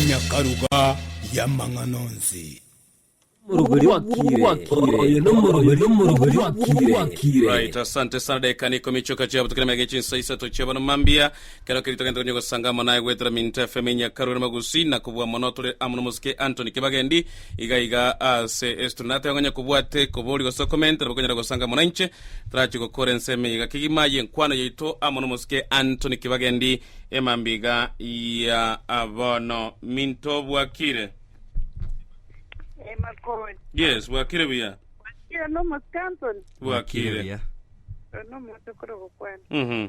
Enyakaruga y'amang'ana onsi. Right, asante sana dakika ni ikomi choka chiabutukire mege chinsa isato chiabano mambia Kero keria togenta konya gosanga amo naye goetera minto efe emenya karue na magusii na kobua mono tore amo nomosike Anthony Kibagendi iga iga aase ase tore nateba ngonya kobwate kobori gose okomente nabo konyara gosanga amo nainche torache gokora ense emeiga kegima yenkwano yaito amo nomosike Anthony Kibagendi emambia iga ya bono minto bwakire Emakoni. Yes bwakire buya Wakira no Muscanton. Bwakire buya. Ono moto koro gokwana. Mhm.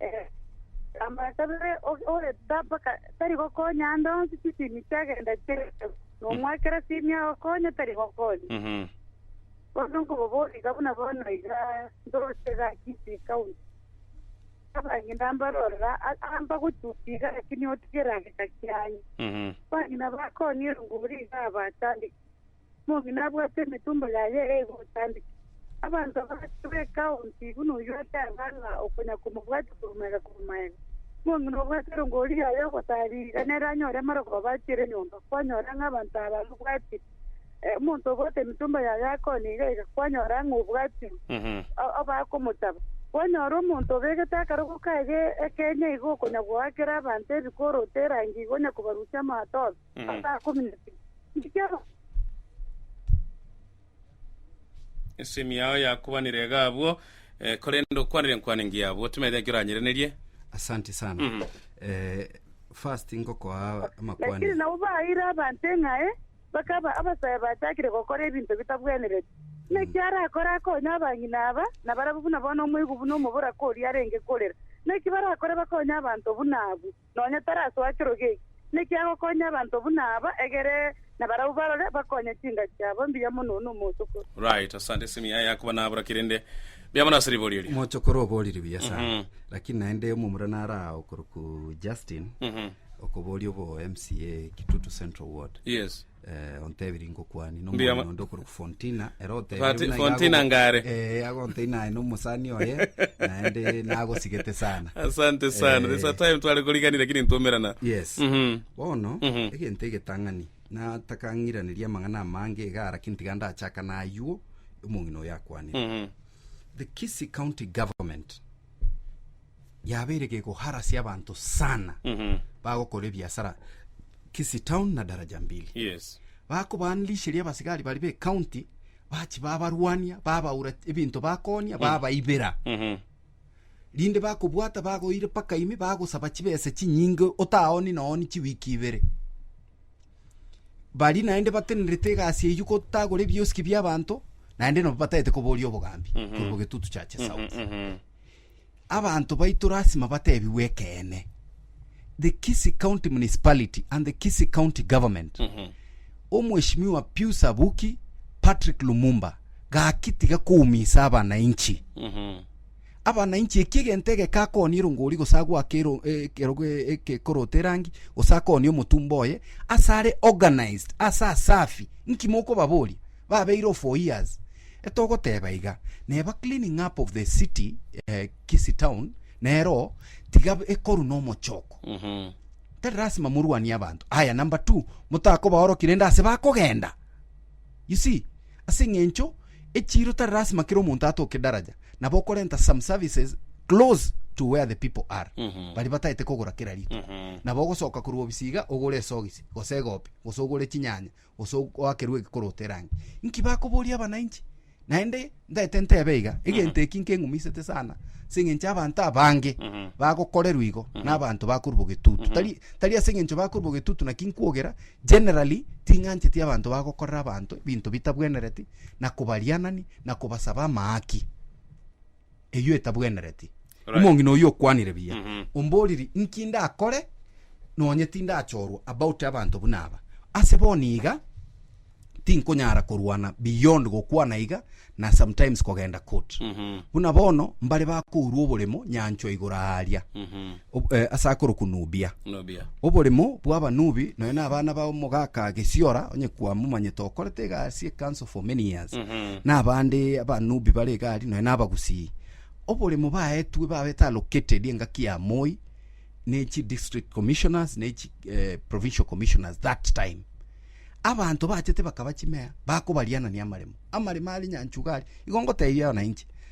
Eh, amabata bere o- oreta mpaka tari gokonya ande onsi chisimi chiagenda chire nomwakera simi agokonya tari gokonya Mhm. bono nkobobori iga buna bono iga ndorose gaki ase ekaunti abang'ina mbarorera a- amba gochuti iga lakini otigere ageka kianye Mhm. bang'ina bakonyire ngori iga abatandiki omong'ina abwate emetumbo yaye egotandika. Abanto abagacha b'ekaonti buna oyio ase abana okonya komobwata korwa maega korwa maega. Omong'ina obwate erongori yaye ogotari iga nere anyore amaroko abachiere nyomba, kwanyora ng'a abanto aba mbabwatire. Omonto obwate emetumbo yaye akonya iga iga, kwanyora ng'a obwatire abakomotaba. Kwanyora omonto obegete akarogo kaye ekeenya igo okonya goakera abanto ebikoroto erangi iga onya kobarusia amato. Asaa komi na bibiri. Ekero Esemi yao yakubanire iga abwo, eh, korende okwanire enkwana engiya abwo, timanyete naki oranyerenerie. asante sana Mhm. Eh, first ngokoa amakwane lakini nabo bahaire abanto eng'ae bakaba abasae bachakire gokora ebinto bitabwenereti naki arakore akonye abang'ina aba na barabwo buna bono omoigu buna omoboraka oria arenge korera naki barakore bakonye abanto buna abwo nonya tarasoa kiro geki. Naki agokonya abanto buna aba, egere na barabwo barore, bakonye chinka chiabo mbuya mono na omochokoro. Right, asante ase emiyae yako bana abura kerende mbuya mono ase riborio erio. Mochokoro oboriri buya sana lakini naende omomura nare aa okorokwa Justin okoboria obo mca Kitutu Central Ward Yes. eh, ontebirie ngokwani Mbuya nomwana ma- onde okorwa fontina ere Fati- otebirie buna Fontina yago- ngare. eh, agontei naye nomosani oye naende nagosigete sana asante sana Eh. this time tware korigani lakini ntumerana yes Mhm. bono Mhm. egento egetang'ani natakang'iraneria amang'ana amange iga lakini tiga ndachaka nayuo omong'ina oyo akwanire Mhm. the kisi county government yabeire gegoharasia abanto sana Mhm. bagokora ebiasara Kisii town na Daraja Mbili Yes. bakobanlisheria abasigari bari be county bachi babarwania babaura ebinto bakonia babaibera Mhm. rinde bakobwata bagoire paka ime bagosaba chibesa chinyinge otaoni nooni chiwiki ibere bari naende batenerete egasi eyio gotagora ebioski biabanto naende nabo batagete koboria obogambi korwa getutu chache south Mhm. Abanto baito lasima batebigwe ekeene. The Kisii County Municipality and the Kisii County Government. Omweshimiwa Pius Abuki, Patrick Lumumba, gaki tiga koumisa abanainchi. Abanainchi eki egento egeke akooni erongori gose agwake ero- e- ekerogo e- ekekorota erangi gose akooni omotumba oye ase are organized ase asafi. Nki mokobaboria? Babeire ofoias etogoteba iga neba cleaning up of the city eh, Kisii town nero tiga ekoru nomochoko tari lasima morwanie abanto aya number two motakobaoroki rende ase bakogenda you see ase eng'encho echiro tari lasima kera omonto atoke daraja nabo okorenta some services close to where the people are bari bataete kogora kera rituko nabo ogosoka korwa obisiga ogore esogisi gose egopi gose ogore chinyanya gose oakerwe egekorooto erangi. Nki bakoboria abananchi? Naende ntaete ntebe iga, egento eki nkeng'umisete sana, ase eng'encho ya abanto abange bagokorerwa igo, na abanto bakorwa bogetutu. Tari tari ase eng'encho bakorwa bogetutu naki nkwogera, generally ting'ancheti abanto bagokorera abanto ebinto bitabwenereti, na kobarianani, na kobasaba amaaki. eyio etabwenereti. Right. Omong'ina oyio okwanire buya. Omboriri, inki ndakore nonye tindachorwa about abanto buna aba? Ase bono iga tinkonyara korwana beyond gokwana iga na sometimes kogenda court. Buna bono mbare bakourwa oboremo nyanchwa igoro aaria. Ob- eh, ase akorokwa Nubia. Nubia. Oboremo bw'abanubi nonya na abana ba omogaka gesiora onye kwamomanyete okorete egasi ekanso for many years Mhm. na abande abanubi bare egari nonya na abagusii oboremo baetwe babete allocated engaki ya moi ne chi district commissioners ne chi eh, provincial commissioners that time abanto bachete bakaba chimea bakobarianania amaremo amaremo are nyanchuga are igo ngotebiria abananchi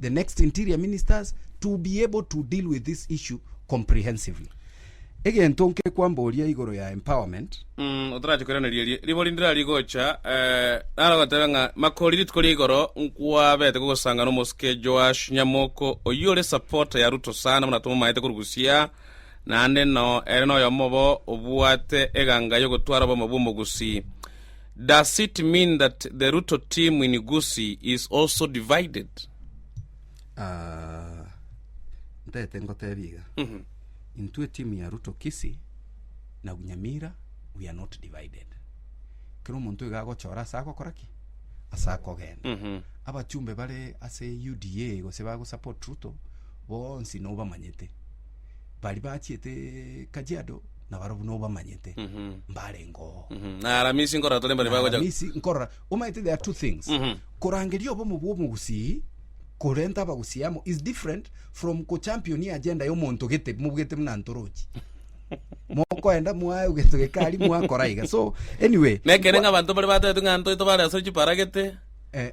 the next interior ministers to be able to deal with this issue comprehensively. Egento nkekwamboria igoro ya empowerment, Mm, otarache koiraneria erie ribo rinde rari gocha, eh, naro gotebe ng'a makori rituko ria igoro nkwabete kogosanga nomosike Joash Nyamoko oyio ore supporter ya Ruto sana buna tomomaete korwa Busia, naende noo ere noyomo obo obwate eganga yogotwara oboma bw'omogusi. Does it mean that the Ruto team in Gusii is also divided? Ah, ntete ngotebia iga Mhm. intwe timu ya ruto kisi na nyamira we are not divided kera omonto iga agochora ase agokora ki ase akogenda Mhm. abachumbe bare ase uda gose bagosupport ruto bonsi nobamanyete baria bachiete Kajiado nabarabwo buna obamanyete mbarenge oo Mhm. Na aramisi nkora tore mbare bagocha. Aramisi nkorora omanyete there are two things Mhm. korangeria obomo bwa omogusii korenta abagusii amo is different from kochampioni agenda ya omonto gete mobwete buna ntorochi mokoenda mwae egento gekari mwakora iga so anyway Nekere ng'a abanto mbare batebete ng'a ntoito bare asore chiparagete. eh,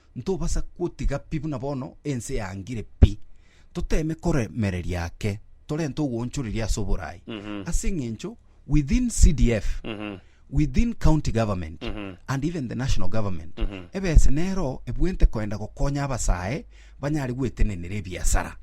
Ntobasa gotiga pi buna bono ense yaangire pi, toteeme koremereria ake torenta ogoonchoreria ase oboraai, ase eng'encho within CDF, within county government, and even the national government, ebese nero ebwente koenda gokonya abasae banyare gwetenenera ebiasara.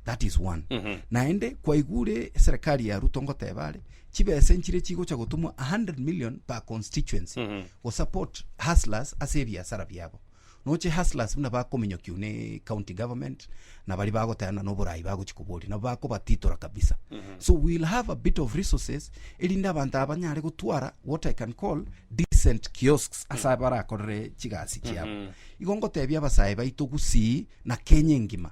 that is one Mhm. naende kwaigure serikali ya ruto ngoteba are chibesa nchire chigocha gotumwa 100 million per constituency Mhm. gosupport hustlers ase ebiasara biabo noche hustlers buna bakominyokiwa ne county government na bari bagotayana noborai bagochi koboria nabo bakobatitora kabisa so we'll have a bit of resources erinde abanto aba banyare gotwara what i can call decent kiosks ase abarakorere chigasi chiabo igo ngotebia abasae baito gusii na kenya engima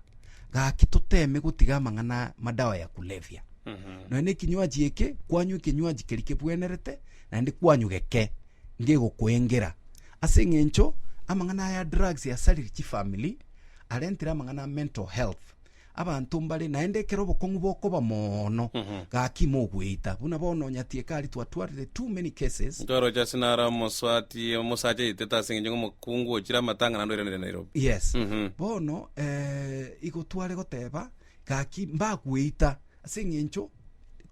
Gaki toteeme gotiga amang'ana a madawa ya kulevya. Nonya na ekinywaji eke, kwanywa ekinywaji keria kebwenerete, naende kwanywa geke ngegokoengera. Ase eng'encho amang'ana aya a drugs asaririe chifamiri, arentire amang'ana a mental health. Abanto mbare naende ekero obokong'u bokoba moono, gaki mogoita. Buna bono onyatieka aria twatwarire too many cases, Ntoroche ase nare omoswati omosacha yaitete ase eng'encho ng'a omo- Kungu ochire amatang'ana ndoiranere Nairobi. Yes. Mhm. Bono eh, igo tware goteba gaki mbakweita ase eng'encho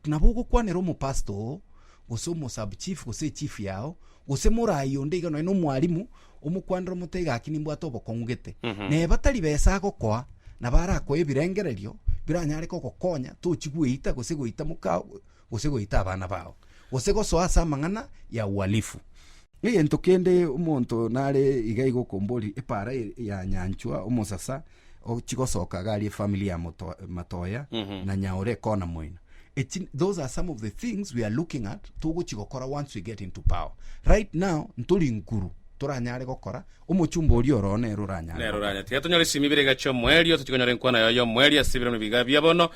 nabo ogokwanera omopastor oo gose omosub chief gose echief yao gose morai onde iga nonye na omwalimu omokwanera omotebie gaki nimbwate obokong'u gete Mhm. na batari besa agokoa nabo arakoe ebirengererio biranyare kogokonya tochi gweita gose goita mokao gose goita abana bao, gose gosoa ase amang'ana ya uhalifu. Egento kende omonto nare iga iga okomboria, epaara ya nyanchwa, omosasa ochigosoka iga aria efamily ya moto- matoya, na nyaore ekona moino. Echi, those are some of the things we are looking at togochigokora once we get into power. Right now, ntori nkuru, toranyare gokora, omochumba oria oroo nere oranyare Nero gokora. oranyare. Tiga tonyore esimi ibere iga chi'omoerio, totigonyora enkwana yaye y'omoerio ase ebiromo ebi iga bia bono,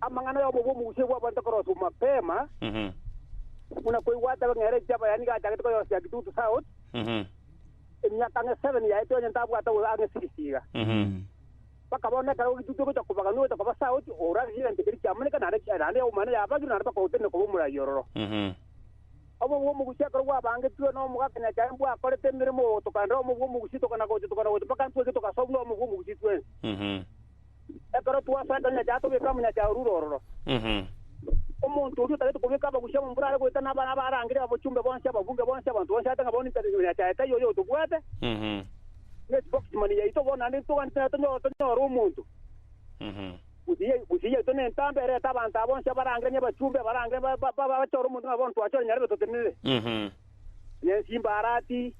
amang'ana y'obobe bw'omogusia bw'abanto akoroswa mapema, Mhm. buna koigwa ata ng'ere ki abayani gachagete koyosia Kitutu South, Mhm. emiaka ang'e seven yaete onye ntabwate ogo ang'e six iga. Mhm. Bakaba na ekero Kitutu egocha kobagana ogocha koba South, orare egento keria kiamaneka naende ki- naende omwana yabagire naende bakagotenena koba omorai ororo. Mhm. Obobe bw'omogusia ekero bwabangetirwe na omogaka Nyachae mbwakorete emeremo ogotoka nere omobe bw'omogusia tokana gocha tokana gocha mpaka ntweke togasoa buna omobe bw'omogusia twensi. Mhm. Ekero twasanta omonyacha atobeka omonyacha orure ororo. Omonto oria otagete kobeka abagusia abo mbura are goeta na abare abarangire, abachumbe bonsi, ababunge bonsi, abanto bonsi ate ng'a bono intare y'omonyacha Hegai oyo otobwate, ne spokesman yaito bono naende ntogante naye tonyore tonyore omonto. Gusii gusii yaito ne entambe erete abanto aba bonsi abarangire ne abachumbe abarangire ba- ba- ba- bachore omonto ng'a bono twachore nyarebe totenenere. Onye ensimba arati,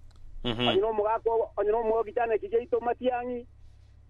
onye nomogaka obo- onye nomwogi chaneki giaito matiang'i,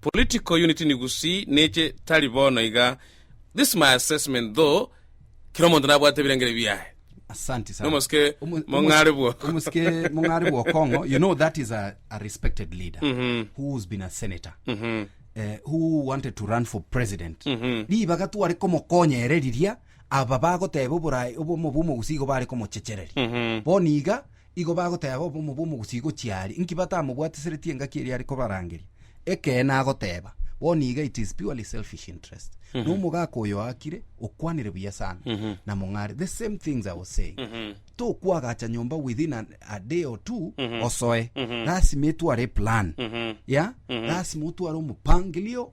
Political unity ni gusii neche tari bono iga this my assessment though kera omonto nabwate ebirengeri biaye. Asanti sana. Nomosike Omo- mong'are omo- bwoko. Omosike mong'are bwokong'o. You know that is a, a respected leader Mhm. who's been a senator. Mhm. Eh, who wanted to run for president. Mhm. Ribaga tware komokonya ere riria aba bagoteba oborai obomo bwa omogusii igo bare komochechereria. Mhm. Bono iga igo bagoteeba obomo bw'omogusii gochia aria, inki batamobwatiseretie engaki eria are kobarangeria? Ekeene agoteeba, bono iga it is purely selfish interest. Mm -hmm. Nomogaka oyo oakire, okwanire buya sana. Mm -hmm. Na mong'are, the same things I was saying. Mm -hmm. Tokwagacha nyomba within a, a day or two, mm -hmm. osoe. Mm -hmm. Lasima etware plan. Mm -hmm. Yeah? Mm -hmm. Lasima otware omopangilio.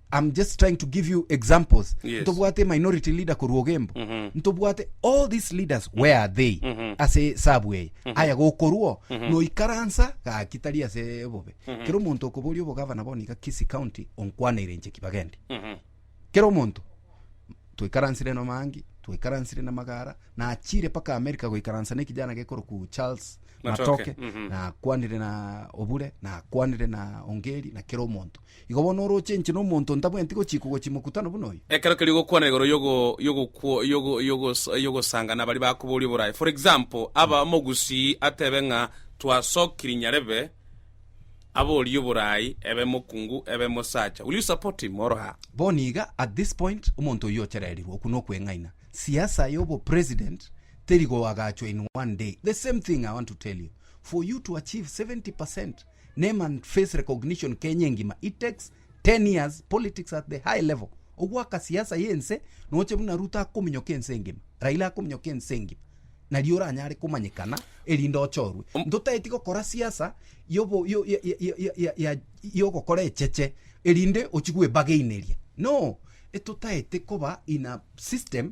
I'm just trying to give you examples. Yes. Ntobwate minority leader korwa ogembo. Ntobwate all these leaders where are they? Ase sabu eye. Aya gokorwo noikaransa gaki tari ase bobe. Kero omonto okoboria obogavana bono iga Kisii County onkwaneire inche ki bagende. Kero omonto twaikaransire na Mangi, twaikaransire na Magara, nachire paka America goikaransa na ekijana gekoroku Charles Matoke. Matoke. Nakwanire na Obure, nakwanire na Ongeri na kero omonto. Igo bono orooche inche nomonto ntabweenti gochiikwa gochia mokutano buna oyo. Ekero keria ogokwana igoro y'ogosanga nabari bakoboria oboraye. For example, aba omogusii atebe ng'a twasokiri nyarebe aborie oboraye ebe mokungu ebe mosacha. Will you support him or her? Bono iga at this point omonto oyio ochererirwe okwo nokweng'aina. Siasa y'obo president teri goagachwa in one day. The same thing I want to tell you. For you to achieve 70% Name and face recognition Kenya engima it takes ten years politics at the high level ogwaka siasa ya ense noche buna Ruto akominyoka ense engima Raila akominyoka ense engima naria oranyare komanyekana erinde ochorwe ntotaeti gokora siasa yobo yo ya ya ya ya ya yogokora echeche erinde ochi gwebageineria no etotaete koba in a system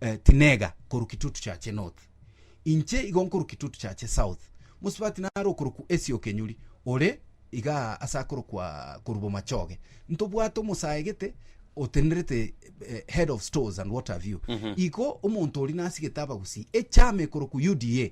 Eh, tinega korwa kitutu chache north, inche igo nkorwa kitutu chache south. Mosubati naro okorokwa Esio Kenyuri, ore iga ase akorokwa korwa bomachoge. Ntobwate omosae gete otenerete eh, head of stores and what have you. Igo omonto oria nasigete abagusii, echama ekorokwa UDA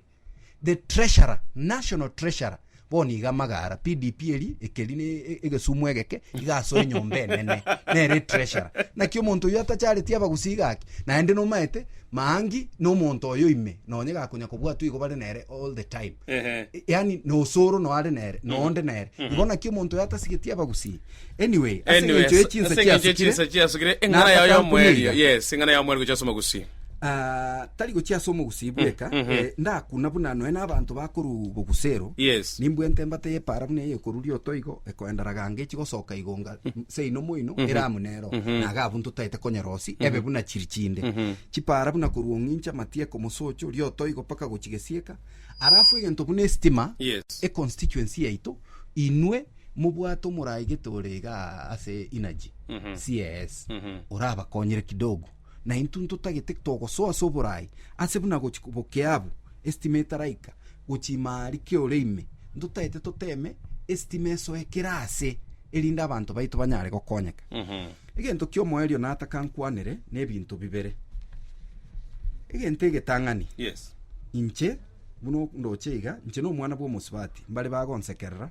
the treasurer national treasurer bono iga amagara pdp eri ekeri ne e- egesumu egeke iga asoe enyomba enene nere treasurer naki omonto oyo atachareti abagusii gaki naende nomaete maangi nomonto oyo ime nonye gakonya kobwatwa igo bare nere all the time Ehe. yani nosoro noare nere noonde nere igo naki omonto oyo atasigeti abagusii Anyway, ase Anyway, eng'encho ye chinsa ase eng'encho ye chinsa chiasukire, chiasukire eng'ana yao ya omoerio Nakakankumira. yes eng'ana ya omoerio gochia ase omogusi ah, tari gochia ase omogusi bweka, mhm. eh, ndakuna buna noe n'abanto bakorwa bogusa ero. Yes. Nimbwente embata y'epaara buna eye ekorwa rioto igo, ekoenda raganga echi gosoka igo nga seino moino eramu nero, na iga abwo ntotaete konyora osi, ebe buna chiri chinde. Chipaara buna korwa ong'incha Matieko, Mosocho, rioto igo mpaka gochia Gesieka. Alafu egento buna esitima, Yes. econstituency yaito, inwe mobwate omorai gete ore iga ase energy CS orabakonyere kidogo na intwe ntotagete togosoa ase oborai ase buna gochi bokea abwo estima etaraika gochi ime aria kio ore ime ntotagete toteme estima esoe kera ase erinde abanto baito banyare gokonyeka egento kia omoerio nataka nkwanere na ebinto bibere egento egetang'ani Yes. inche buna ndoche iga inche nomwana bwa omosubati mbare bagonsekerera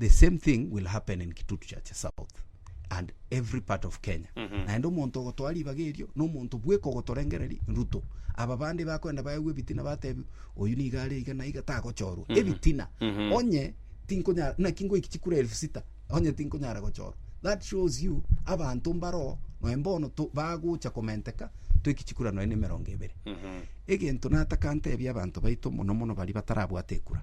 the same thing will happen in kitutu chache south and every part of kenya naende omonto ogotoa ribaga erio na omonto bweka ogotorengereri ruto aba bande bakwenda baegwe ebitina batebi oyu niga are iga na iga tagochorwa ebitina onye tinkonya naki ngoiki chikura elfu sita onye tinkonyara gochorwa that shows you abanto mbaro noe mbono to- bagocha komenteka toiki chikura noe na emerongo ebere egento nataka ntebie abanto baito mono mono baria batarabwate ekura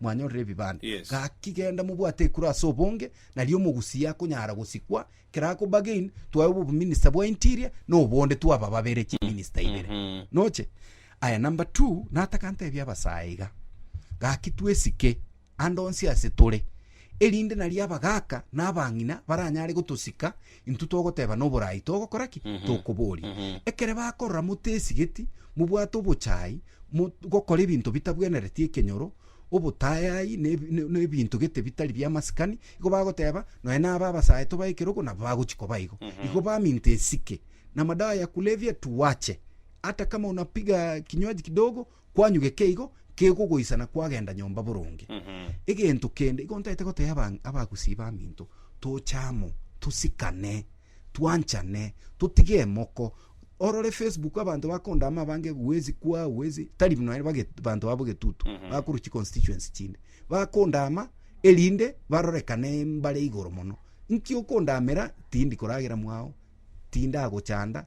mwanyorire ebibanda. Yes. Gaki genda mobwate ekura ase obonge, nari omogusia akonyara gosikwa, ekero akoba again, twaewa obominista bwa interior, na obonde twaba babere chiminista ibere. Mhm. Noche? Aya number two, nataka ntebie abasae iga, gaki twesike ande onsi ase tore, erinde nari abagaka na abang'ina baranyare gotosika, Intwe togoteba noborai togokora ki? Tokoboria. Ekere bakorora motesigeti, mobwate obochai, mo, gokora ebinto bitabwenereti ekenyoro, obotayai, ne, ne, ne ebinto gete bitari bia masikani, igo bagoteba nonya naba abasae tobae ekerogo nabo bagochi koba igo. Igo baminto esike na madawa ya kulevya tuwache. Hata kama unapiga kinywaji kidogo Kwanyuge keigo kegogoisana kwagenda nyomba boronge. Egento kende igo ntaete goteea abang- abagusii baminto, toche amo, tosikane, twanchane, totige emoko. Orore Facebook abanto bakondaama abange huwezi kuwa, huwezi, tari buna ere bage- abanto babo getutu, bakorwa chiconstituency chinde. Bakondaama erinde barorekane mbare igoro mono. Nki okondaamera? Tindi koragera mwao, tindagochanda,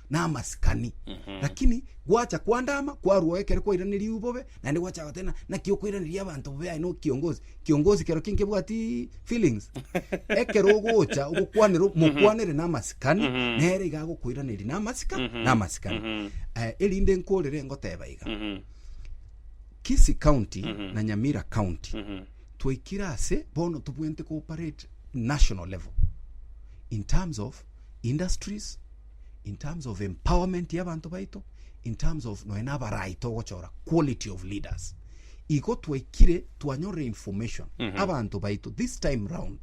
na amasikani lakini gwacha kwandama kwarua ekero kwairaneria bobe naende gwacha gotena naki okoiraneria abanto bobe aye no kiongozi kiongozi kero ki nkebwati feelings ekero ogocha ogokwanera mokwanere na amasikani Mhm. nere iga agokoiraneria na amasika Mhm. na amasikani Mhm. Eh, erinde nkorere ngoteba iga Mhm. Kisii County Mhm. na Nyamira County Mhm. twaikire ase bono tobwente cooperate national level in terms of industries in terms of empowerment ya abanto baito, in terms of noe nabarai togochora quality of leaders. Igo twaikire twanyorire information abanto baito this time round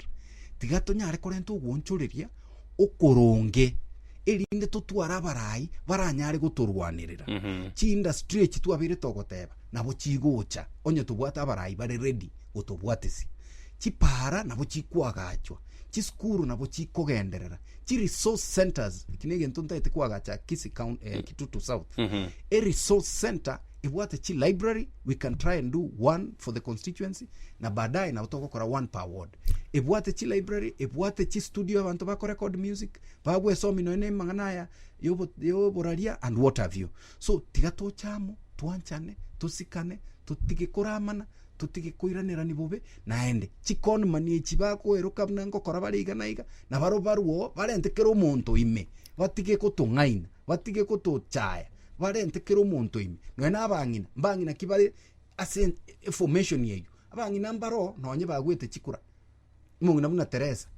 tiga tonyare korenta ogoonchoreria okoronge erinde totware abarai baranyare gotorwanerera chiindustry echi twabeire togoteba nabo chigocha onye tobwate abarai bare ready gotobwatesia chipara nabo chikwagachwa chisukuru nabo chikogenderera chi resource centers eki na egento ntaete kwagacha kisi count, eh, kitutu south Mhm. a resource center ebwate chi library we can try and do one for the constituency na baadaye nabo togokora one per ward ebwate chi library ebwate chi studio abanto bakorecord music babwesomi nonya na emang'ana aya yobo- yoboraria and what have you so tiga toche amo twanchane tosikane totige koramana totige koiranerani bobe naende. Chikonmani echi bakoeroka buna ngokora bare iga na iga, na barobwo barwo oo barente kera omonto ime, batige gotong'aina, batige gotochaya, barente kera omonto ime. Nonya na abang'ina, mbang'ina ki bare ase en- eformation eywo, abang'ina mbaro oo nonye bagwete chikura, omong'ina buna Teresa,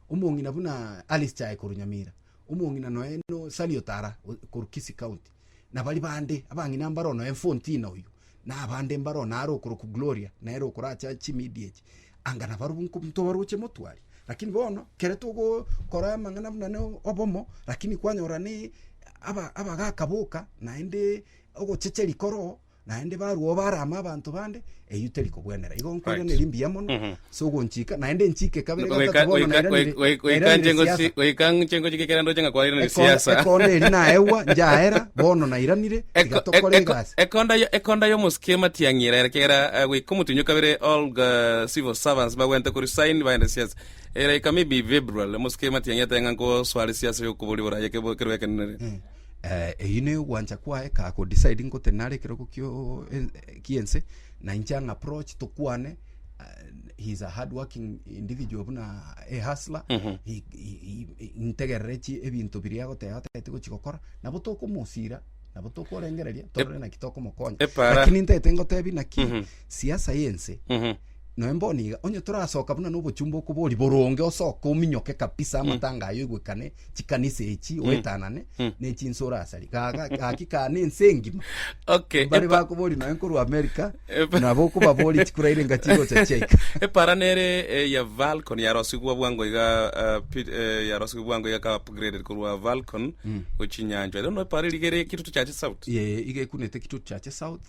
omong'ina bunaa Alice Chae korwa Nyamira, omong'ina nonya no Sally Otara o- korwa Kisii County, na baria bande abang'ina mbaro noe Fontina oyio, na abande mbaro nare okorokwa Gloria, nere okoracha chimidia echi, anga nabarobwo nko- ntobaroche motware. Lakini bono, kere togokora amang'ana buna ne obomo, lakini kwanyora ne aba- abagaka boka, naende ogochecheria koroo, naende barwa obarama abanto bande eyio teri kobwenera igo nkoiraneria mbuya mono Mhm. ase ogonchika naende nchike kabere Goika- gatatu bono goika- nairanire- goika- goika- nairanire nche ngosi- siasa. goika nche ngochi gekera ndoche ng'a kwairanire Ekonda- siasa. ekonda eri naegwa njaera bono nairanire Eko- tiga tokore eko- egasi ekonda yo- ekonda y'omosike ematiang'i eraera ekiagera eh, goika omotunywa kabere all the civil servants bagwente koresign baende siasa eraika maybe february omosike ematiang'i ateba ng'a nkosware siasa y'okobori boraya kebo- kerwa ekenereri Eh, eyi ne ogwancha kwaye ka ko decide ngote nare ekerogo kio en- eh, kiense na inche ang approach tokwane uh, he is a hard working individual buna a hustler he, he, he, he, ntegerere chi ebinto biria agoteba atagete gochigokora nabo tokomosira nabo tokorengereria torore naki tokomokonya Epara- lakini ntete ngotebi naki Mhm. siasa yense Mhm. Noe mbono iga, onye torasoka buna nobochumba okobori boronge osoke ominyoke kabisa mm. amatanga ayo igwekane chikanisa echi mm. oetanane mm. nechinso orasari gaki kane ense engima okay, bari bakobori noe nkorwa amerika nabo okobabori chikuraire nga chigocha chiaika epara nere eh, ya valcon yarosigwa bwango iga eh, eh, yarosigwa bwango iga ka upgrade korwa valcon mm. gochinyanjo rero noe pare rigere kitutu chache south ye iga ekunete kitutu chache south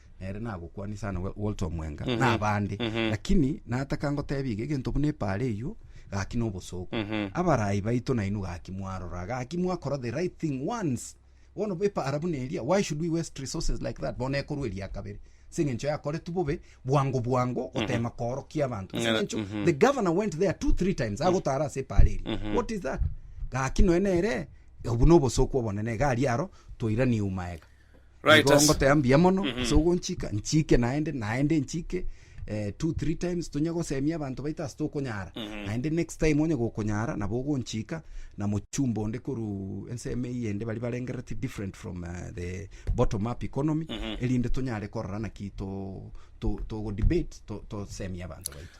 nere nagokwania sana Wa- walter omwenga Mhm. na abande Mhm. lakini nataka ngotebia iga egento buna epaara eyio gaki na obosooku Mhm. abarayi baito nainwe gaki mwarora gaki mwakora the right thing once bono epaara buna eria why should we waste resources like that bono ekorwa eria kabere ase eng'encho yakoretwe bobe bwango bwango gotema koorokia abanto ase Ng'a- eng'encho mhm. the governor went there two three times agotara ase epaara eria Mhm. what is that gaki noe nere obu na obosooku obonene iga aria aro toiranie eumaega Right, Igo as- ngoteba mbuya mono Mhm. ase ogonchika nchike naende naende nchike eh, two three times tonya gosemia abanto baito ase tokonyara Mhm. naende next time onye gokonyara nabo ogonchika na mochumba onde koru ensemo eye ende bari barengereti different from uh, the bottom up economy Mhm. erinde tonyare korora naki to to togo debate to- tosemia abanto baito